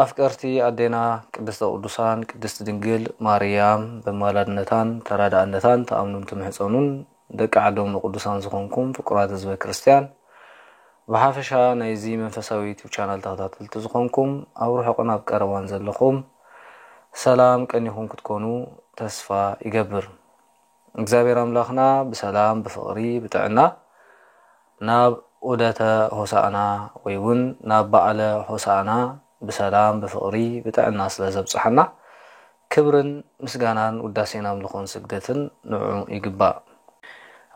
ኣፍቀርቲ ኣዴና ቅድስተ ቅዱሳን ቅድስት ድንግል ማርያም በማላድነታን ተራዳእነታን ትኣምኑን ትምሕጸኑን ደቂ ዓዶም ንቅዱሳን ዝኾንኩም ፍቁራት ህዝበ ክርስትያን ብሓፈሻ ናይዚ መንፈሳዊ ዩቱብ ቻናል ተኸታተልቲ ዝኾንኩም ኣብ ርሑቕን ኣብ ቀረባን ዘለኹም ሰላም ቀኒኹም ክትኮኑ ተስፋ ይገብር። እግዚኣብሔር ኣምላኽና ብሰላም ብፍቕሪ ብጥዕና ናብ ዑደተ ሆሳእና ወይ ውን ናብ በዓለ ሆሳእና ብሰላም ብፍቕሪ ብጥዕና ስለ ዘብጽሓና ክብርን ምስጋናን ውዳሴን ኣምልኾን ስግደትን ንዑ ይግባእ።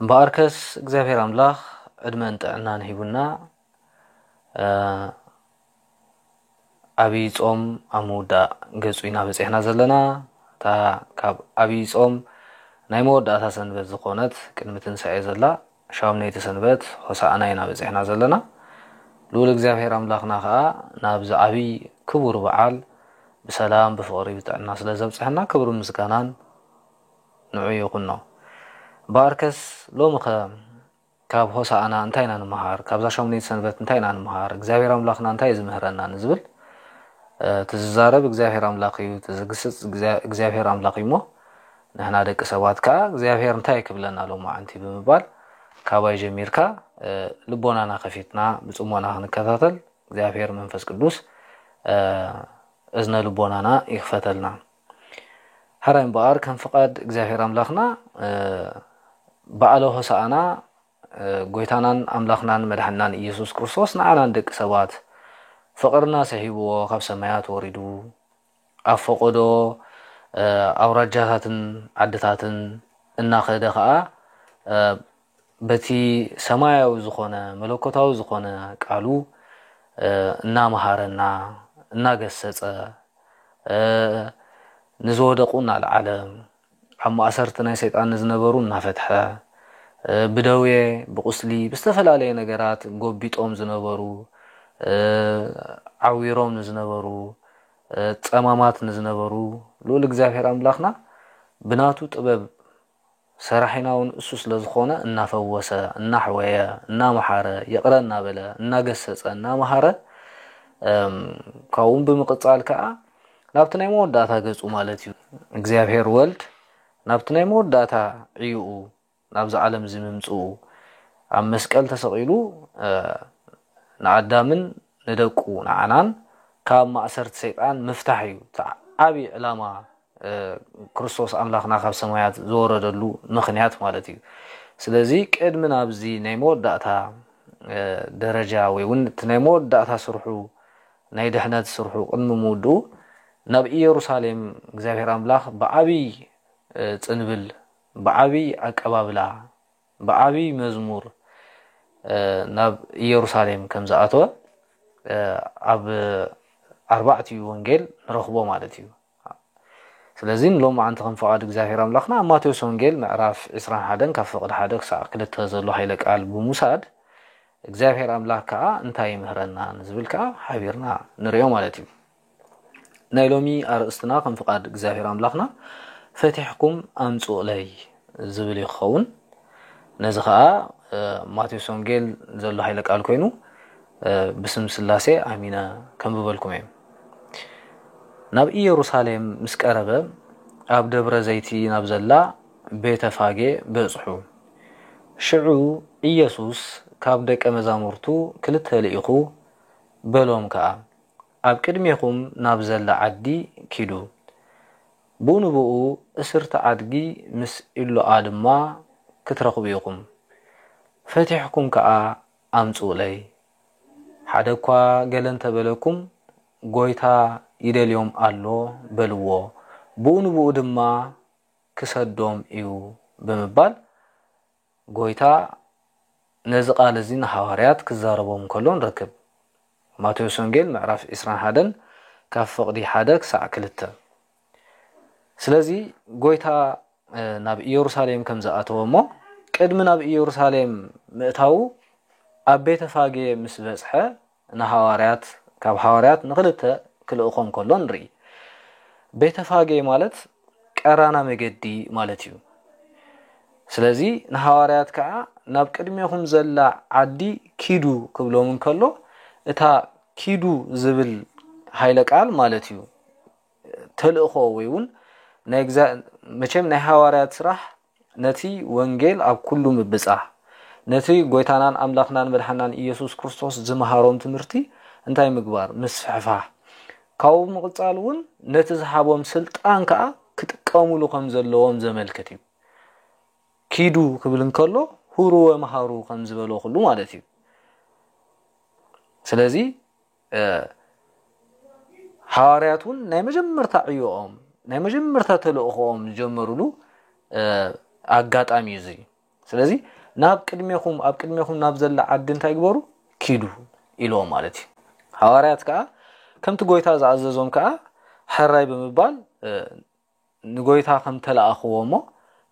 እምበኣርከስ እግዚኣብሔር ኣምላኽ ዕድመን ጥዕናን ሂቡና ኣብይ ፆም ኣብ ምውዳእ ገፁ ኢና በፂሕና ዘለና እታ ካብ ኣብይ ፆም ናይ መወዳእታ ሰንበት ዝኾነት ቅድሚ ትንሳኤ ዘላ ሻምነይቲ ሰንበት ሆሳእና ኢና በፂሕና ዘለና ልኡል እግዚኣብሔር ኣምላኽና ከዓ ናብዚ ዓብይ ክቡር በዓል ብሰላም ብፍቕሪ ብጥዕና ስለ ዘብፅሐና ክብሪ ምስጋናን ንዑ ይኹኖ ባርከስ ሎሚ ከ ካብ ሆሳእና እንታይ ኢና ንምሃር? ካብዛ ሻሙነይቲ ሰንበት እንታይ ኢና ንምሃር? እግዚኣብሔር ኣምላኽና እንታይ እዩ ዝምህረና? ንዝብል እቲ ዝዛረብ እግዚኣብሔር ኣምላኽ እዩ፣ እቲ ዝግስጽ እግዚኣብሔር ኣምላኽ እዩ እሞ ንሕና ደቂ ሰባት ከኣ እግዚኣብሔር እንታይ ክብለና ሎማዕንቲ ብምባል ካባይ ጀሚርካ ልቦናና ከፊትና ብጽሞና ክንከታተል እግዚኣብሔር መንፈስ ቅዱስ እዝነ ልቦናና ይክፈተልና። ሐራይ እምበኣር ከም ፍቃድ እግዚኣብሔር ኣምላኽና በዓለ ሆሳኣና ጎይታናን ኣምላኽናን መድሓናን ኢየሱስ ክርስቶስ ንዓና ንደቂ ሰባት ፍቅርና ስሒብዎ ካብ ሰማያት ወሪዱ ኣብ ፈቆዶ ኣውራጃታትን ዓድታትን እናኸደ ከዓ በቲ ሰማያዊ ዝኾነ መለኮታዊ ዝኾነ ቃሉ እናመሃረና እናገሰጸ ንዝወደቑ እናልዓለ ኣብ ማእሰርቲ ናይ ሰይጣን ንዝነበሩ እናፈትሐ ብደዌ ብቑስሊ ብዝተፈላለየ ነገራት ጎቢጦም ዝነበሩ ዓዊሮም ንዝነበሩ ጸማማት ንዝነበሩ ልኡል እግዚኣብሔር ኣምላኽና ብናቱ ጥበብ ሰራሒና ውን እሱ ስለ ዝኾነ እናፈወሰ፣ እናሕወየ፣ እናመሓረ፣ ይቕረ እናበለ፣ እናገሰጸ፣ እናመሃረ እም ካብኡውን ብምቕጻል ከኣ ናብቲ ናይ መወዳእታ ገጹ ማለት እዩ እግዚኣብሔር ወልድ ናብቲ ናይ መወዳእታ ዕዩኡ ናብዚ ዓለም እዚ ምምጽኡ ኣብ መስቀል ተሰቒሉ እ ንኣዳምን ንደቁ ንዓናን ካብ ማእሰርቲ ሰይጣን ምፍታሕ እዩ እቲ ዓቢ ዕላማ ክርስቶስ ኣምላኽና ካብ ሰማያት ዝወረደሉ ምኽንያት ማለት እዩ። ስለዚ ቅድሚ ናብዚ ናይ መወዳእታ ደረጃ ወይ እውን እቲ ናይ መወዳእታ ስርሑ ናይ ድሕነት ስርሑ ቅድሚ ምውድኡ ናብ ኢየሩሳሌም እግዚኣብሔር ኣምላኽ ብዓብይ ጽንብል ብዓብይ ኣቀባብላ ብዓብይ መዝሙር ናብ ኢየሩሳሌም ከም ዝኣተወ ኣብ ኣርባዕቲኡ ወንጌል ንረኽቦ ማለት እዩ። ስለዚ ንሎማዓንቲ ከም ፍቓድ እግዚኣብሔር ኣምላኽና ኣብ ማቴዎስ ወንጌል ምዕራፍ ዕስራን ሓደን ካብ ፍቕዲ ሓደ ክሳዕ ክልተ ዘሎ ሃይለ ቃል ብምውሳድ እግዚኣብሔር ኣምላኽ ከኣ እንታይ ይምህረና ንዝብል ከኣ ሓቢርና ንርእዮ ማለት እዩ። ናይ ሎሚ ኣርእስትና ከም ፍቓድ እግዚኣብሔር ኣምላኽና ፈቲሕኩም ኣምጽኡለይ ዝብል እዩ ክኸውን። ነዚ ኸኣ ማቴዎስ ወንጌል ዘሎ ኃይለ ቃል ኮይኑ ብስም ሥላሴ ኣሚነ ከንብበልኩም እየ። ናብ ኢየሩሳሌም ምስ ቀረበ ኣብ ደብረ ዘይቲ ናብ ዘላ ቤተ ፋጌ በጽሑ። ሽዑ ኢየሱስ ካብ ደቀ መዛሙርቱ ክልተ ልኢኹ፣ በሎም ከኣ ኣብ ቅድሜኹም ናብ ዘላ ዓዲ ኪዱ። ብኡ ንብኡ እስርቲ ኣድጊ ምስ ኢሎኣ ድማ ክትረኽቡ ኢኹም። ፈቲሕኩም ከኣ ኣምጽኡለይ። ሓደ እኳ ገለ እንተ በለኩም፣ ጐይታ ይደልዮም ኣሎ በልዎ፣ ብኡ ንብኡ ድማ ክሰዶም እዩ ብምባል ጐይታ ነዚ ቓል እዚ ንሃዋርያት ክዛረቦም ከሎ ንረክብ። ማቴዎስ ወንጌል ምዕራፍ ዕስራን ሓደን ካብ ፍቕዲ ሓደ ክሳዕ ክልተ። ስለዚ ጐይታ ናብ ኢየሩሳሌም ከም ዝኣተወ እሞ ቅድሚ ናብ ኢየሩሳሌም ምእታዉ ኣብ ቤተ ፋጌ ምስ በጽሐ ንሃዋርያት ካብ ሃዋርያት ንክልተ ክልእኾም ከሎ ንርኢ። ቤተፋጌ ማለት ቀራና መገዲ ማለት እዩ። ስለዚ ንሃዋርያት ከዓ ናብ ቅድሜኹም ዘላ ዓዲ ኪዱ ክብሎም እንከሎ እታ ኪዱ ዝብል ሃይለ ቃል ማለት እዩ ተልእኾ ወይ እውን መቸም ናይ ሃዋርያት ስራሕ ነቲ ወንጌል ኣብ ኩሉ ምብጻህ። ነቲ ጎይታናን ኣምላኽናን መድሓናን ኢየሱስ ክርስቶስ ዝመሃሮም ትምህርቲ እንታይ ምግባር? ምስፍሕፋህ። ካብኡ ብምቕጻል እውን ነቲ ዝሃቦም ስልጣን ከኣ ክጥቀሙሉ ከም ዘለዎም ዘመልክት እዩ። ኪዱ ክብል እንከሎ ሁሩ ወመሃሩ ከም ዝበሎ ኩሉ ማለት እዩ። ስለዚ ሓዋርያት እውን ናይ መጀመርታ ዕዮኦም ናይ መጀመርታ ተልእኾኦም ዝጀመሩሉ ኣጋጣሚ እዩ እዚ ስለዚ ናብ ቅድሜኹም ኣብ ቅድሜኹም ናብ ዘላ ዓዲ እንታይ ግበሩ ኪዱ ኢልዎም ማለት እዩ ሓዋርያት ከዓ ከምቲ ጎይታ ዝኣዘዞም ከዓ ሕራይ ብምባል ንጎይታ ከም ተለኣኽዎ እሞ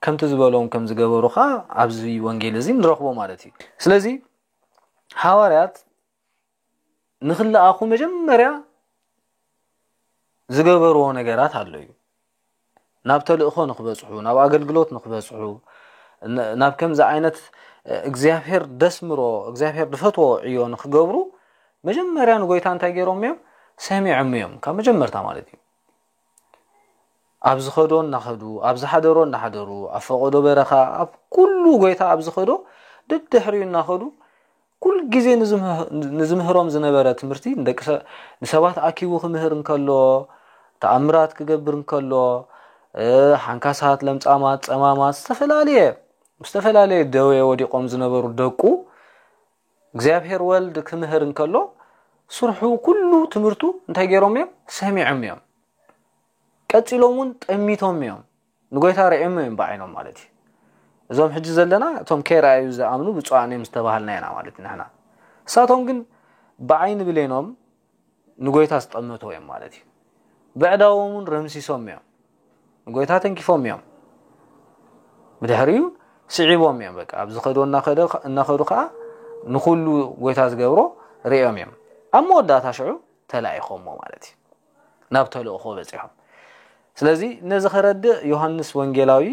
ከምቲ ዝበሎም ከም ዝገበሩ ከዓ ኣብዚ ወንጌል እዚ ንረኽቦ ማለት እዩ ስለዚ ሓዋርያት ንክለኣኹ መጀመርያ ዝገበርዎ ነገራት ኣሎ እዩ ናብ ተልእኾ ንክበፅሑ ናብ ኣገልግሎት ንክበፅሑ ናብ ከምዚ ዓይነት እግዚኣብሔር ደስምሮ እግዚኣብሔር ድፈትዎ ዕዮ ንክገብሩ መጀመርያ ንጎይታ እንታይ ገይሮም እዮም ሰሚዖም እዮም ካብ መጀመርታ ማለት እዩ ኣብ ዝኸዶ እናኸዱ ኣብ ዝሓደሮ እናሓደሩ ኣብ ፈቐዶ በረኻ ኣብ ኩሉ ጎይታ ኣብ ዝኸዶ ድድሕሪኡ እናኸዱ ኩል ግዜ ንዝምህሮም ዝነበረ ትምህርቲ ንደቂ ንሰባት ኣኪቡ ክምህር እንከሎ ተኣምራት ክገብር እንከሎ ሓንካሳት ለምጻማት ጸማማት ዝተፈላለየ ዝተፈላለየ ደዌ ወዲቖም ዝነበሩ ደቁ እግዚኣብሔር ወልድ ክምህር እንከሎ ስርሑ ኩሉ ትምህርቱ እንታይ ገይሮም እዮም ሰሚዖም እዮም ቀፂሎም እውን ጠሚቶም እዮም ንጎይታ ርዕሞ እዮም ብዓይኖም ማለት እዩ እዞም ሕጂ ዘለና እቶም ከይረኣዩ ዝኣምኑ ብፁዓን እዮም ዝተባሃልና ኢና ማለት ኢና ንሕና እሳቶም ግን ብዓይኒ ብሌኖም ንጎይታ ዝጠመቱ እዮም ማለት እዩ በዕዳዎም እውን ረምሲሶም እዮም ንጎይታ ተንኪፎም እዮም ብድሕሪኡ ስዒቦም እዮም በቃ ኣብ ዝኸዶ እናኸዱ ከዓ ንኩሉ ጎይታ ዝገብሮ ርኦም እዮም ኣብ መወዳእታ ሽዑ ተላኢኾሞ ማለት እዩ ናብ ተልእኾ በፂሖም ስለዚ ነዚ ከረድእ ዮሃንስ ወንጌላዊ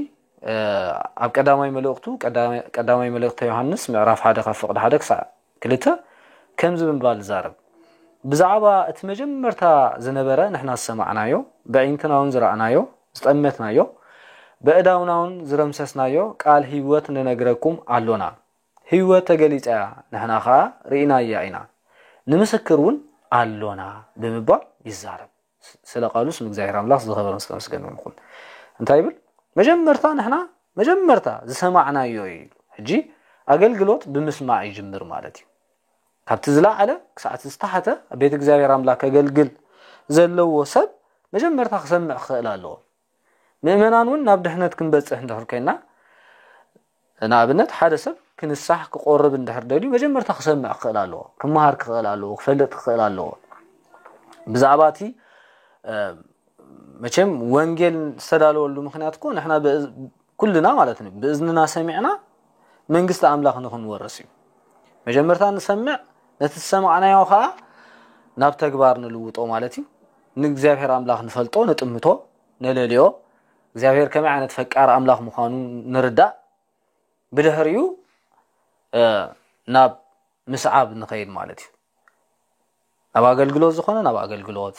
ኣብ ቀዳማይ መልእኽቱ ቀዳማይ መልእኽተ ዮሃንስ ምዕራፍ ሓደ ካብ ፍቕዲ ሓደ ክሳዕ ክልተ ከምዚ ብምባል ይዛረብ ብዛዕባ እቲ መጀመርታ ዝነበረ ንሕና ዝሰማዕናዮ በዒንትና እውን ዝረኣናዮ ዝጠመትናዮ በእዳውና እውን ዝረምሰስናዮ ቃል ህይወት ንነግረኩም ኣሎና ህይወት ተገሊጻ እያ ንሕና ኸኣ ርኢናያ ኢና ንምስክር እውን ኣሎና ብምባል ይዛረብ ስለ ቃሉ ስም እግዚኣብሔር ኣምላኽ ዝኸበረ ምስ ተመስገነ ይኹን እንታይ ይብል መጀመርታ ንሕና መጀመርታ ዝሰማዕናዮ እዩ ኢሉ ሕጂ ኣገልግሎት ብምስማዕ ይጅምር ማለት እዩ ካብቲ ዝለዓለ ክሳዕቲ ዝተሓተ ኣብ ቤት እግዚኣብሔር ኣምላክ ከገልግል ዘለዎ ሰብ መጀመርታ ክሰምዕ ክኽእል ኣለዎ ምእመናን እውን ናብ ድሕነት ክንበጽሕ እንድሕር ኮይና ንኣብነት ሓደ ሰብ ክንሳሕ ክቆርብ እንድሕር ደልዩ መጀመርታ ክሰምዕ ክኽእል ኣለዎ ክመሃር ክኽእል ኣለዎ ክፈልጥ ክኽእል ኣለዎ ብዛዕባ እቲ መቸም ወንጌል ዝተዳለወሉ ምክንያት እኮ ንሕና ኩልና ማለት እዩ ብእዝንና ሰሚዕና መንግስቲ ኣምላኽ ንክንወርስ እዩ መጀመርታ ንሰምዕ ነቲ ዝሰማዕናዮ ከዓ ናብ ተግባር ንልውጦ ማለት እዩ ንእግዚኣብሔር ኣምላኽ ንፈልጦ ንጥምቶ ነለልዮ እግዚኣብሔር ከመይ ዓይነት ፈቃር ኣምላኽ ምዃኑ ንርዳእ ብድሕሪኡ ናብ ምስዓብ ንኸይድ ማለት እዩ ናብ ኣገልግሎት ዝኾነ ናብ ኣገልግሎት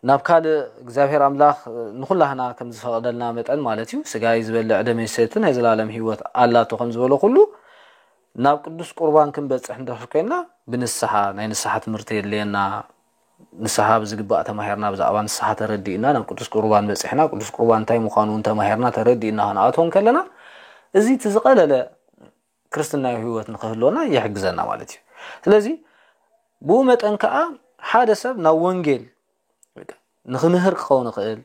ናብ ካልእ እግዚኣብሔር ኣምላኽ ንኹላህና ከም ዝፈቐደልና መጠን ማለት እዩ ስጋይ ዝበልዕ ደመይ ሰቲ ናይ ዘላለም ህይወት ኣላቶ ከም ዝበሎ ኩሉ ናብ ቅዱስ ቁርባን ክንበጽሕ እንድሕር ኮይና ብንስሓ ናይ ንስሓ ትምህርቲ የድልየና ንስሓ ብዝግባእ ተማሂርና ብዛዕባ ንስሓ ተረዲእና ናብ ቅዱስ ቁርባን በጺሕና ቅዱስ ቁርባን እንታይ ምዃኑ እውን ተማሂርና ተረዲእና ክንኣትዎ ከለና እዚ እቲ ዝቐለለ ክርስትናዊ ህይወት ንክህልወና ይሕግዘና ማለት እዩ ስለዚ ብኡ መጠን ከዓ ሓደ ሰብ ናብ ወንጌል ንክምህር ክኸውን ይኽእል፣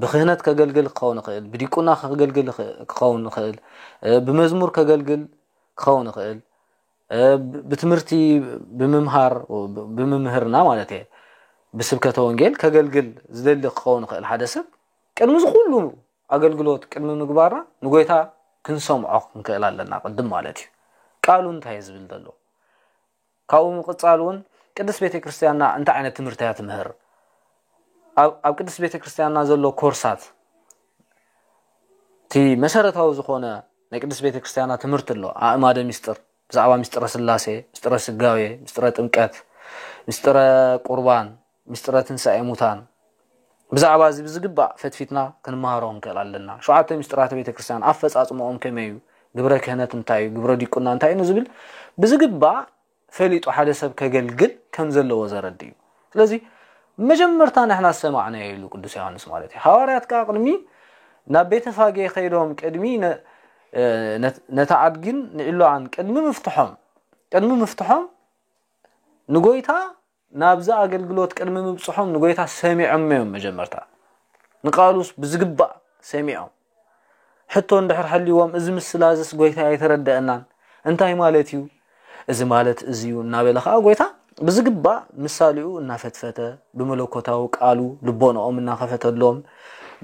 ብክህነት ከገልግል ክኸውን ይኽእል፣ ብዲቁና ከገልግል ክኸውን ይኽእል፣ ብመዝሙር ከገልግል ክኸውን ይኽእል፣ ብትምህርቲ ብምምሃር ብምምህርና ማለት እየ ብስብከተ ወንጌል ከገልግል ዝደሊ ክኸውን ይኽእል ሓደ ሰብ ቅድሚ ዝኹሉ ኣገልግሎት ቅድሚ ምግባርና ንጎይታ ክንሰምዖ ክንክእል ኣለና ቅድም ማለት እዩ ቃሉ እንታይ ዝብል ዘሎ ካብኡ ብምቕጻል እውን ቅድስት ቤተ ክርስቲያንና እንታይ ዓይነት ትምህርቲ እያ ትምህር ኣብ ቅድስት ቤተ ክርስቲያንና ዘሎ ኮርሳት እቲ መሰረታዊ ዝኾነ ናይ ቅድስት ቤተ ክርስቲያንና ትምህርቲ ኣሎ ኣእማደ ሚስጥር ብዛዕባ ምስጢረ ስላሴ ምስጢረ ስጋዌ ምስጢረ ጥምቀት ምስጢረ ቁርባን ምስጢረ ትንሳኤ ሙታን ብዛዕባ እዚ ብዝግባእ ፈትፊትና ክንመሃሮ ክንክእል ኣለና። ሸውዓተ ምስጢራተ ቤተ ክርስቲያን ኣፈጻጽምኦም ከመይ እዩ፣ ግብረ ክህነት እንታይ እዩ፣ ግብረ ዲቁና እንታይ እዩ ንዝብል ብዝግባእ ፈሊጡ ሓደ ሰብ ከገልግል ከም ዘለዎ ዘረድእ እዩ። ስለዚ መጀመርታ ንሕና ዝሰማዕናዮ ኢሉ ቅዱስ ዮሃንስ ማለት እዩ። ሃዋርያት ከዓ ቅድሚ ናብ ቤተ ፋጌ ከይዶም ቅድሚ ነታ ኣድግን ንዒሎኣን ቅድሚ ምፍትሖም ቅድሚ ምፍትሖም ንጎይታ ናብዚ ኣገልግሎት ቅድሚ ምብጽሖም ንጐይታ ሰሚዖሞ እዮም መጀመርታ። ንቃሉስ ብዝግባእ ሰሚዖም። ሕቶ እንድሕር ሃልይዎም እዚ ምስላ እዝስ ጐይታይ ኣይተረደአናን፣ እንታይ ማለት እዩ? እዚ ማለት እዚ እዩ እናበለ ኸኣ ጐይታ ብዝግባእ ምሳሌኡ እናፈትፈተ ብመለኮታዊ ቃሉ ልቦናኦም እናኸፈተሎም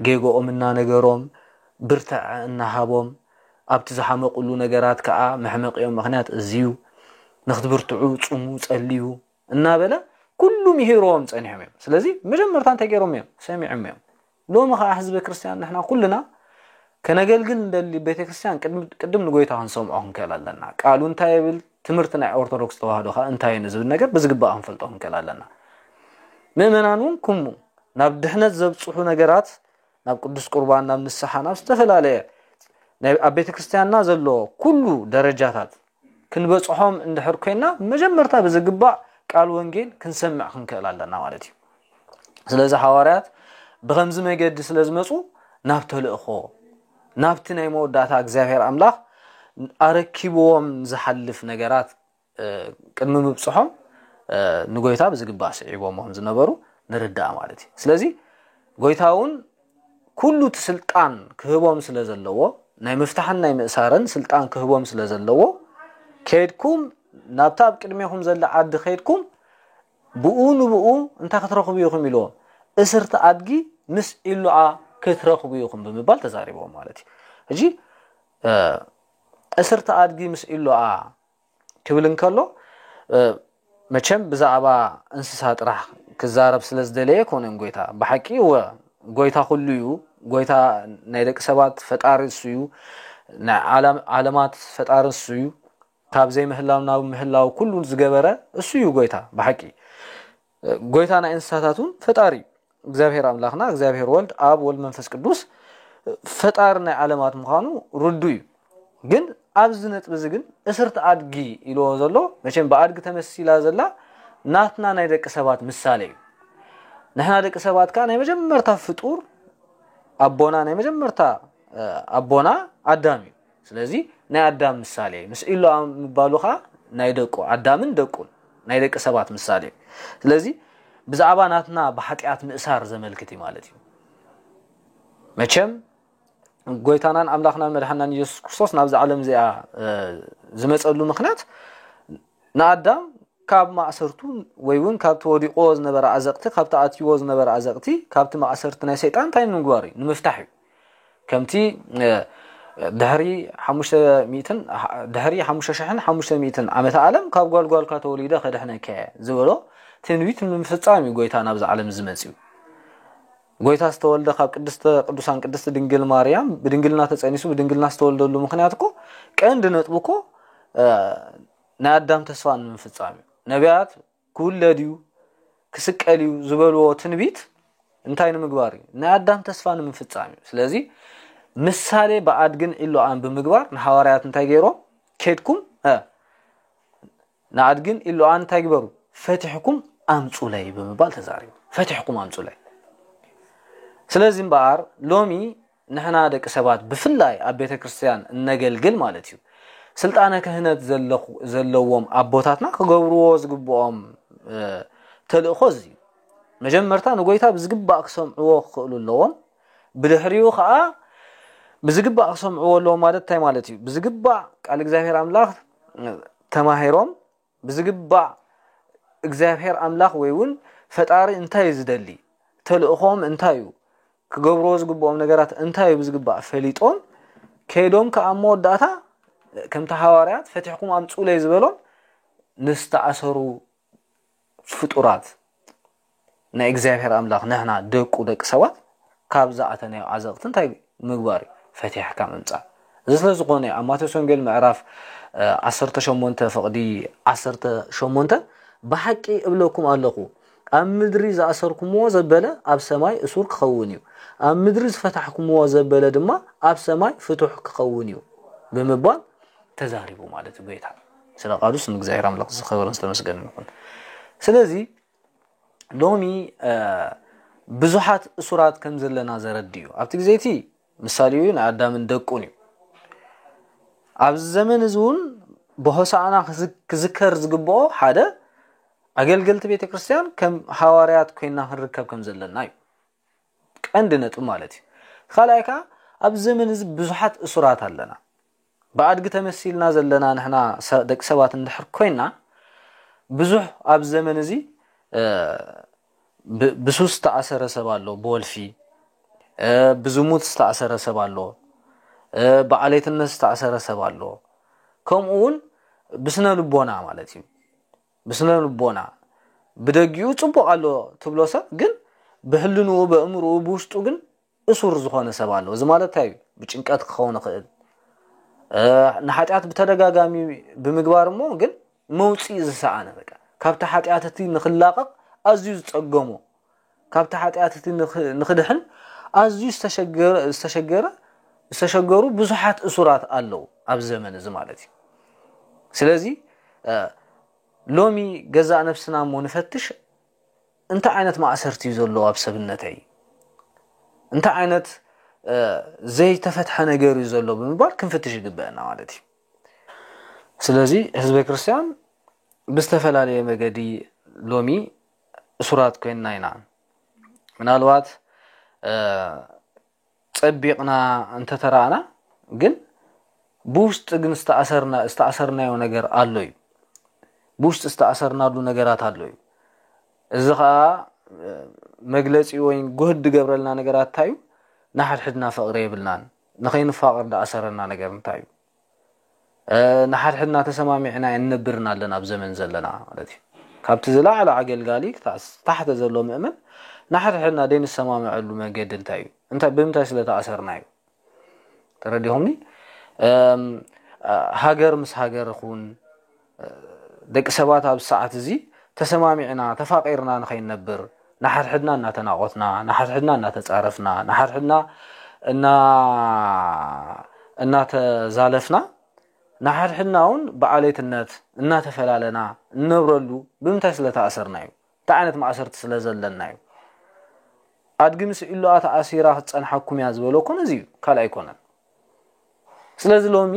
ጌግኦም እናነገሮም ብርተዐ እናሃቦም ኣብቲ ዝሓመቕሉ ነገራት ከኣ መሕመቒኦም ምኽንያት እዚ'ዩ፣ ንኽትብርትዑ ጹሙ ጸልዩ፣ እናበለ ኩሉ ምሂርዎም ጸኒሖም እዮም። ስለዚ መጀመርታ እንታይ ገይሮም እዮም? ሰሚዖም እዮም። ሎሚ ከኣ ህዝበ ክርስትያን ንሕና ኩልና ከነገልግል እንደሊ ቤተ ክርስትያን ቅድም ንጎይታ ክንሰምዖ ክንክእል ኣለና። ቃሉ እንታይ ይብል፣ ትምህርቲ ናይ ኦርቶዶክስ ተዋህዶ ከኣ እንታይ እዩ ንዝብል ነገር ብዝግባእ ክንፈልጦ ክንክእል ኣለና። ምእመናን እውን ኩሙ ናብ ድሕነት ዘብጽሑ ነገራት ናብ ቅዱስ ቁርባን ናብ ንስሓ ናብ ዝተፈላለየ ኣብ ቤተ ክርስትያንና ዘሎ ኩሉ ደረጃታት ክንበጽሖም እንድሕር ኮይና መጀመርታ ብዝግባእ ቃል ወንጌል ክንሰምዕ ክንክእል ኣለና ማለት እዩ ስለዚ ሓዋርያት ብኸምዚ መገዲ ስለ ዝመፁ ናብ ተልእኾ ናብቲ ናይ መወዳእታ እግዚኣብሔር ኣምላኽ ኣረኪብዎም ዝሓልፍ ነገራት ቅድሚ ምብጽሖም ንጎይታ ብዝግባእ ስዒቦሞ ከም ዝነበሩ ንርዳእ ማለት እዩ ስለዚ ጎይታ እውን ኩሉ እቲ ስልጣን ክህቦም ስለ ዘለዎ ናይ ምፍታሕን ናይ ምእሳርን ስልጣን ክህቦም ስለ ዘለዎ ከድኩም ናብታ ኣብ ቅድሜኹም ዘለ ዓዲ ከድኩም ብኡ ንብኡ እንታይ ክትረኽቡ ኢኹም ኢልዎም እስርቲ ኣድጊ ምስ ኢሉዓ ክትረኽቡ ኢኹም ብምባል ተዛሪቦም ማለት እዩ ሕጂ እስርቲ ኣድጊ ምስ ኢሉዓ ክብል እንከሎ መቸም ብዛዕባ እንስሳ ጥራሕ ክዛረብ ስለ ዝደለየ ኣይኮነን ጎይታ ብሓቂ እወ ጎይታ ኩሉ እዩ ጎይታ ናይ ደቂ ሰባት ፈጣሪ እሱ እዩ ናይ ዓለማት ፈጣሪ እሱ እዩ ካብ ዘይምህላው ናብ ምህላው ኩሉ ዝገበረ እሱ እዩ ጎይታ ብሓቂ ጎይታ ናይ እንስሳታት እውን ፈጣሪ እዩ እግዚኣብሔር ኣምላኽና እግዚኣብሔር ወልድ ኣብ ወልድ መንፈስ ቅዱስ ፈጣሪ ናይ ዓለማት ምዃኑ ርዱ እዩ ግን ኣብዚ ነጥቢ እዚ ግን እስርቲ ኣድጊ ኢልዎ ዘሎ መቸም ብኣድጊ ተመሲላ ዘላ ናትና ናይ ደቂ ሰባት ምሳሌ እዩ ንሕና ደቂ ሰባት ከዓ ናይ መጀመርታ ፍጡር ኣቦና ናይ መጀመርታ ኣቦና ኣዳም እዩ ስለዚ ናይ ኣዳም ምሳሌ ምስ ኢሎ ምባሉ ከኣ ናይ ደቁ ኣዳምን ደቁን ናይ ደቂ ሰባት ምሳሌ እዩ። ስለዚ ብዛዕባ ናትና ብሓጢኣት ምእሳር ዘመልክት እዩ ማለት እዩ። መቸም ጎይታናን ኣምላኽናን መድሓናን ኢየሱስ ክርስቶስ ናብዛ ዓለም እዚኣ ዝመጸሉ ምክንያት ንኣዳም ካብ ማእሰርቱ ወይ እውን ካብቲ ወዲቕዎ ዝነበረ ኣዘቕቲ ካብቲ ኣትይዎ ዝነበረ ኣዘቕቲ ካብቲ ማእሰርቲ ናይ ሰይጣን እንታይ ንምግባር እዩ ንምፍታሕ እዩ ከምቲ ድሕሪ ሓሙሽተ ሚእትን ድሕሪ ሓሙሽተ ሽሕን ሓሙሽተ ሚእትን ዓመተ ዓለም ካብ ጓል ጓልካ ተወሊደ ከድሕነካ እየ ዝበሎ ትንቢት ንምፍጻም እዩ ጎይታ ናብዛ ዓለም ዝመጽኡ ጎይታ ዝተወልደ ካብ ቅድስተ ቅዱሳን ቅድስቲ ድንግል ማርያም ብድንግልና ተጸኒሱ ብድንግልና ዝተወልደሉ ምክንያት እኮ ቀንዲ ነጥቡ እኮ ናይ ኣዳም ተስፋ ንምፍጻም እዩ ነቢያት ክውለድ እዩ፣ ክስቀል እዩ ዝበልዎ ትንቢት እንታይ ንምግባር እዩ? ናይ ኣዳም ተስፋ ንምፍጻም እዩ። ስለዚ ምሳሌ ብኣድግን ዒሎኣን ብምግባር ንሃዋርያት እንታይ ገይሮም? ኬድኩም ንኣድግን ዒሎኣን እንታይ ግበሩ? ፈቲሕኩም ኣምጹለይ ብምባል ተዛሪቡ። ፈቲሕኩም ኣምጹለይ። ስለዚ እምበኣር ሎሚ ንሕና ደቂ ሰባት ብፍላይ ኣብ ቤተ ክርስትያን እነገልግል ማለት እዩ ስልጣነ ክህነት ዘለዎም ኣቦታትና ክገብርዎ ዝግብኦም ተልእኾ እዚ እዩ። መጀመርታ ንጎይታ ብዝግባእ ክሰምዕዎ ክኽእሉ ኣለዎም። ብድሕሪኡ ከዓ ብዝግባእ ክሰምዕዎ ኣለዎም ማለት እንታይ ማለት እዩ? ብዝግባእ ቃል እግዚኣብሔር ኣምላኽ ተማሂሮም ብዝግባእ እግዚኣብሔር ኣምላኽ ወይ እውን ፈጣሪ እንታይ እዩ ዝደሊ ተልእኾም እንታይ እዩ ክገብርዎ ዝግብኦም ነገራት እንታይ እዩ ብዝግባእ ፈሊጦም ከይዶም ከዓ ኣብ መወዳእታ ከምቲ ሃዋርያት ፈቲሕኩም ኣምፁለይ ዝበሎም ንዝተኣሰሩ ፍጡራት ናይ እግዚኣብሔር ኣምላኽ ንሕና ደቁ ደቂ ሰባት ካብ ዝኣተናዮ ዓዘቕቲ እንታይ ምግባር እዩ ፈቲሕካ ምምፃእ እዚ ስለ ዝኾነ ኣብ ማቴዎስ ወንጌል ምዕራፍ 18 ፍቕዲ 18 ብሓቂ እብለኩም ኣለኹ ኣብ ምድሪ ዝኣሰርኩምዎ ዘበለ ኣብ ሰማይ እሱር ክኸውን እዩ ኣብ ምድሪ ዝፈታሕኩምዎ ዘበለ ድማ ኣብ ሰማይ ፍቱሕ ክኸውን እዩ ብምባል ተዛሪቡ ማለት እዩ ጎይታ ስለ ቃሉ ስም እግዚኣብሔር ኣምላኽ ዝኸበረን ዝተመስገንን ይኹን ስለዚ ሎሚ ብዙሓት እሱራት ከም ዘለና ዘረድ እዩ ኣብቲ ግዜ እቲ ምሳሌ እዩ ናይ ኣዳምን ደቁን እዩ ኣብዚ ዘመን እዚ እውን ብሆሳእና ክዝከር ዝግብኦ ሓደ ኣገልገልቲ ቤተ ክርስትያን ከም ሃዋርያት ኮይና ክንርከብ ከም ዘለና እዩ ቀንዲ ነጥብ ማለት እዩ ካልኣይ ከዓ ኣብዚ ዘመን እዚ ብዙሓት እሱራት ኣለና ብኣድጊ ተመሲልና ዘለና ንሕና ደቂ ሰባት እንድሕር ኮይና ብዙሕ ኣብዚ ዘመን እዚ ብሱስ ዝተኣሰረ ሰብ ኣሎ ብወልፊ ብዝሙት ዝተኣሰረ ሰብ ኣሎ ብዓሌትነት ዝተኣሰረ ሰብ ኣሎ ከምኡ እውን ብስነ ልቦና ማለት እዩ ብስነ ልቦና ብደጊኡ ፅቡቅ ኣሎ ትብሎ ሰብ ግን ብሕልንኡ በእምርኡ ብውሽጡ ግን እሱር ዝኾነ ሰብ ኣሎ እዚ ማለት እንታይ እዩ ብጭንቀት ክኸውን ይኽእል ንሓጢኣት ብተደጋጋሚ ብምግባር እሞ ግን መውፅኢ ዝሰኣነ በቃ ካብቲ ሓጢኣት እቲ ንክላቐቕ ኣዝዩ ዝፀገሞ ካብቲ ሓጢኣት እቲ ንክድሕን ኣዝዩ ዝተሸገረ ዝተሸገሩ ብዙሓት እሱራት ኣለዉ ኣብ ዘመን እዚ ማለት እዩ ስለዚ ሎሚ ገዛእ ነፍስና እሞ ንፈትሽ እንታይ ዓይነት ማእሰርቲ እዩ ዘሎ ኣብ ሰብነተይ፣ እንታይ ዓይነት ዘይተፈትሐ ነገር እዩ ዘሎ ብምባል ክንፍትሽ ይግበአና ማለት እዩ። ስለዚ ህዝበ ክርስቲያን ብዝተፈላለየ መገዲ ሎሚ እሱራት ኮይንና ኢና። ምናልባት ጸቢቕና እንተተራእና ግን ብውሽጢ ግን ዝተኣሰርና ዝተኣሰርናዮ ነገር ኣሎ እዩ። ብውሽጢ ዝተኣሰርናሉ ነገራት ኣሎ እዩ። እዚ ኸኣ መግለጺ ወይ ጉህድ ዝገብረልና ነገራት እንታይ እዩ? ንሓድሕድና ፍቕሪ የብልናን። ንኸይንፋቐር ዝኣሰረና ነገር እንታይ እዩ? ንሓድሕድና ተሰማሚዕና ኣይንነብርን ኣለና ኣብ ዘመን ዘለና ማለት እዩ ካብቲ ዝለዓለ ኣገልጋሊ ክሳዕ ታሕተ ዘሎ ምእመን ንሓድሕድና ዘይንሰማምዐሉ መገዲ እንታይ እዩ እንታይ ብምንታይ ስለተኣሰርና እዩ ተረዲኹምኒ ሃገር ምስ ሃገር ኹን ደቂ ሰባት ኣብዚ ሰዓት እዚ ተሰማሚዕና ተፋቒርና ንኸይንነብር ንሓድሕድና እናተናቖትና ንሓድሕድና እናተጻረፍና ንሓድሕድና እናተዛለፍና ንሓድሕድና እውን ብዓሌትነት እናተፈላለና እንነብረሉ ብምንታይ ስለ ተኣሰርና እዩ እንታይ ዓይነት ማእሰርቲ ስለ ዘለና እዩ ኣድጊ ምስ ዒሎኣ ተኣሲራ ክትጸንሓኩም እያ ዝበለኩ ነዚ እዩ ካልእ ኣይኮነን ስለዚ ሎሚ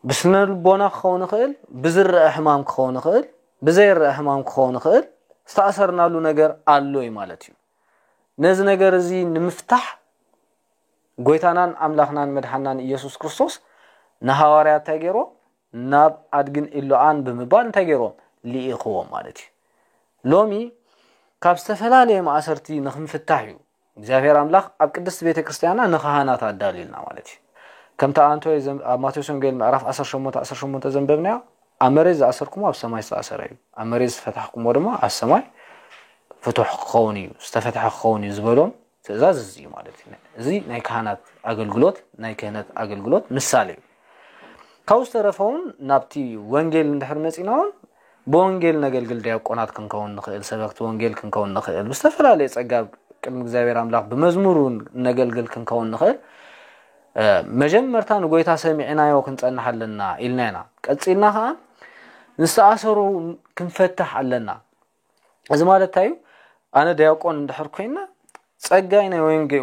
ብስነ ልቦና ክኸውን ይኽእል፣ ብዝረአ ሕማም ክኸውን ይኽእል፣ ብዘይረአ ሕማም ክኸውን ይኽእል፣ ዝተኣሰርናሉ ነገር ኣሎ እዩ ማለት እዩ። ነዚ ነገር እዚ ንምፍታሕ ጎይታናን ኣምላኽናን መድሓናን ኢየሱስ ክርስቶስ ንሃዋርያት እንታይ ገይሮ ናብ ኣድግን ኢሎኣን ብምባል እንታይ ገይሮም ልኢኽዎም ማለት እዩ ሎሚ ካብ ዝተፈላለየ ማእሰርቲ ንክንፍታሕ እዩ እግዚኣብሔር ኣምላኽ ኣብ ቅድስት ቤተ ክርስቲያና ንካህናት ኣዳልዩልና ማለት እዩ ከምቲ ኣንቶ ኣብ ማቴዎስ ወንጌል ምዕራፍ ዓሰርተ ሸሞንተ ዓሰርተ ሸሞንተ ዘንበብናዮ ኣብ መሬት ዝኣሰርኩሞ ኣብ ሰማይ ዝተኣሰረ እዩ ኣብ መሬት ዝፈታሕኩሞ ድማ ኣብ ሰማይ ፍቱሕ ክኸውን እዩ ዝተፈትሐ ክኸውን እዩ ዝበሎም ትእዛዝ እዚ እዩ ማለት እዩ እዚ ናይ ካህናት ኣገልግሎት ናይ ክህነት ኣገልግሎት ምሳሌ እዩ ካብኡ ዝተረፈውን ናብቲ ወንጌል እንድሕር መፂና እውን ብወንጌል ነገልግል ዲያቆናት ክንከውን ንኽእል፣ ሰበክቲ ወንጌል ክንከውን ንኽእል፣ ብዝተፈላለየ ጸጋ ቅድሚ እግዚኣብሔር ኣምላኽ ብመዝሙር እውን እነገልግል ክንከውን ንኽእል፣ መጀመርታ ንጎይታ ሰሚዕናዮ ክንጸንሕ ኣለና ኢልና ኢና። ቀጺልና ከኣ ንዝተኣሰሩ ክንፈትሕ ኣለና። እዚ ማለት እንታይ እዩ? ኣነ ዲያቆን እንድሕር ኮይነ ጸጋይ ናይ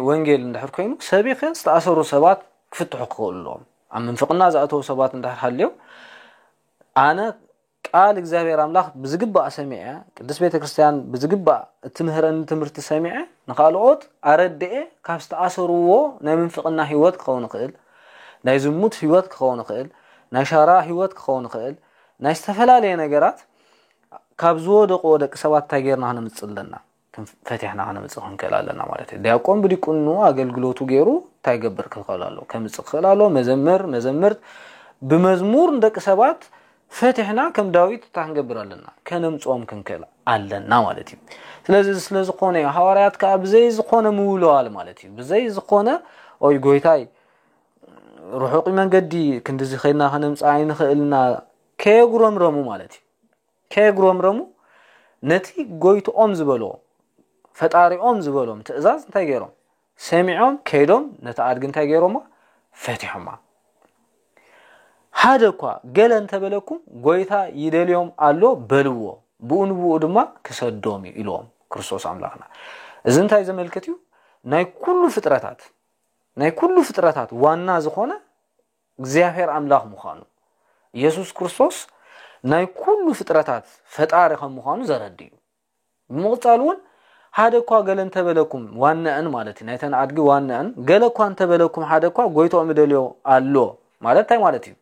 ወንጌል እንድሕር ኮይኑ ሰቢኸ ዝተኣሰሩ ሰባት ክፍትሑ ክኽእሉ ኣለዎም። ኣብ ምንፍቕና ዝኣተዉ ሰባት እንድሕር ሃልዮም ኣነ ቃል እግዚኣብሔር ኣምላኽ ብዝግባእ ሰሚዐ ቅድስት ቤተ ክርስቲያን ብዝግባእ እትምህረኒ ትምህርቲ ሰሚዐ ንኻልኦት ኣረድኤ ካብ ዝተኣሰርዎ ናይ ምንፍቕና ህይወት ክኸውን ይኽእል ናይ ዝሙት ህይወት ክኸውን ይኽእል ናይ ሻራ ህይወት ክኸውን ይኽእል ናይ ዝተፈላለየ ነገራት ካብ ዝወደቁዎ ደቂ ሰባት እንታይ ጌርና ክነምጽእ ኣለና ፈቲሕና ከነምጽእ ክንክእል ኣለና ማለት እዩ። ዲያቆን ብዲቁንኡ ኣገልግሎቱ ገይሩ እንታይ ይገብር ክኽእል ኣለዎ? ከምጽእ ክኽእል ኣለዎ። መዘምር መዘምርት ብመዝሙር ንደቂ ሰባት ፈቲሕና ከም ዳዊት እንታይ ክንገብር ኣለና? ከነምጽኦም ክንክእል ኣለና ማለት እዩ። ስለዚ እዚ ስለ ዝኾነ እዩ ሃዋርያት ከዓ ብዘይ ዝኾነ ምውልዋል ማለት እዩ ብዘይ ዝኾነ ኦይ ጎይታይ ርሑቕ መንገዲ ክንድዚ ከድና ከነምጽእ ኣይንኽእልና ከየጉረምረሙ ማለት እዩ ከየጉረምረሙ ነቲ ጎይትኦም ዝበልዎ ፈጣሪኦም ዝበሎም ትእዛዝ እንታይ ገይሮም ሰሚዖም ከይዶም ነቲ ኣድጊ እንታይ ገይሮማ ፈቲሖማ ሓደ እኳ ገለ እንተበለኩም ጎይታ ይደልዮም ኣሎ በልዎ ብኡ ንብኡ ድማ ክሰዶም እዩ ኢልዎም ክርስቶስ ኣምላኽና እዚ እንታይ ዘመልክት እዩ ናይ ኩሉ ፍጥረታት ናይ ኩሉ ፍጥረታት ዋና ዝኾነ እግዚኣብሔር ኣምላኽ ምዃኑ፣ ኢየሱስ ክርስቶስ ናይ ኩሉ ፍጥረታት ፈጣሪ ከም ምዃኑ ዘረድ እዩ። ብምቕጻል እውን ሓደ እኳ ገለ እንተበለኩም ዋናእን ማለት እዩ ናይተን ኣድጊ ዋናእን ገለ እኳ እንተበለኩም ሓደ እኳ ጎይታኦም ይደልዮ ኣሎ ማለት እንታይ ማለት እዩ?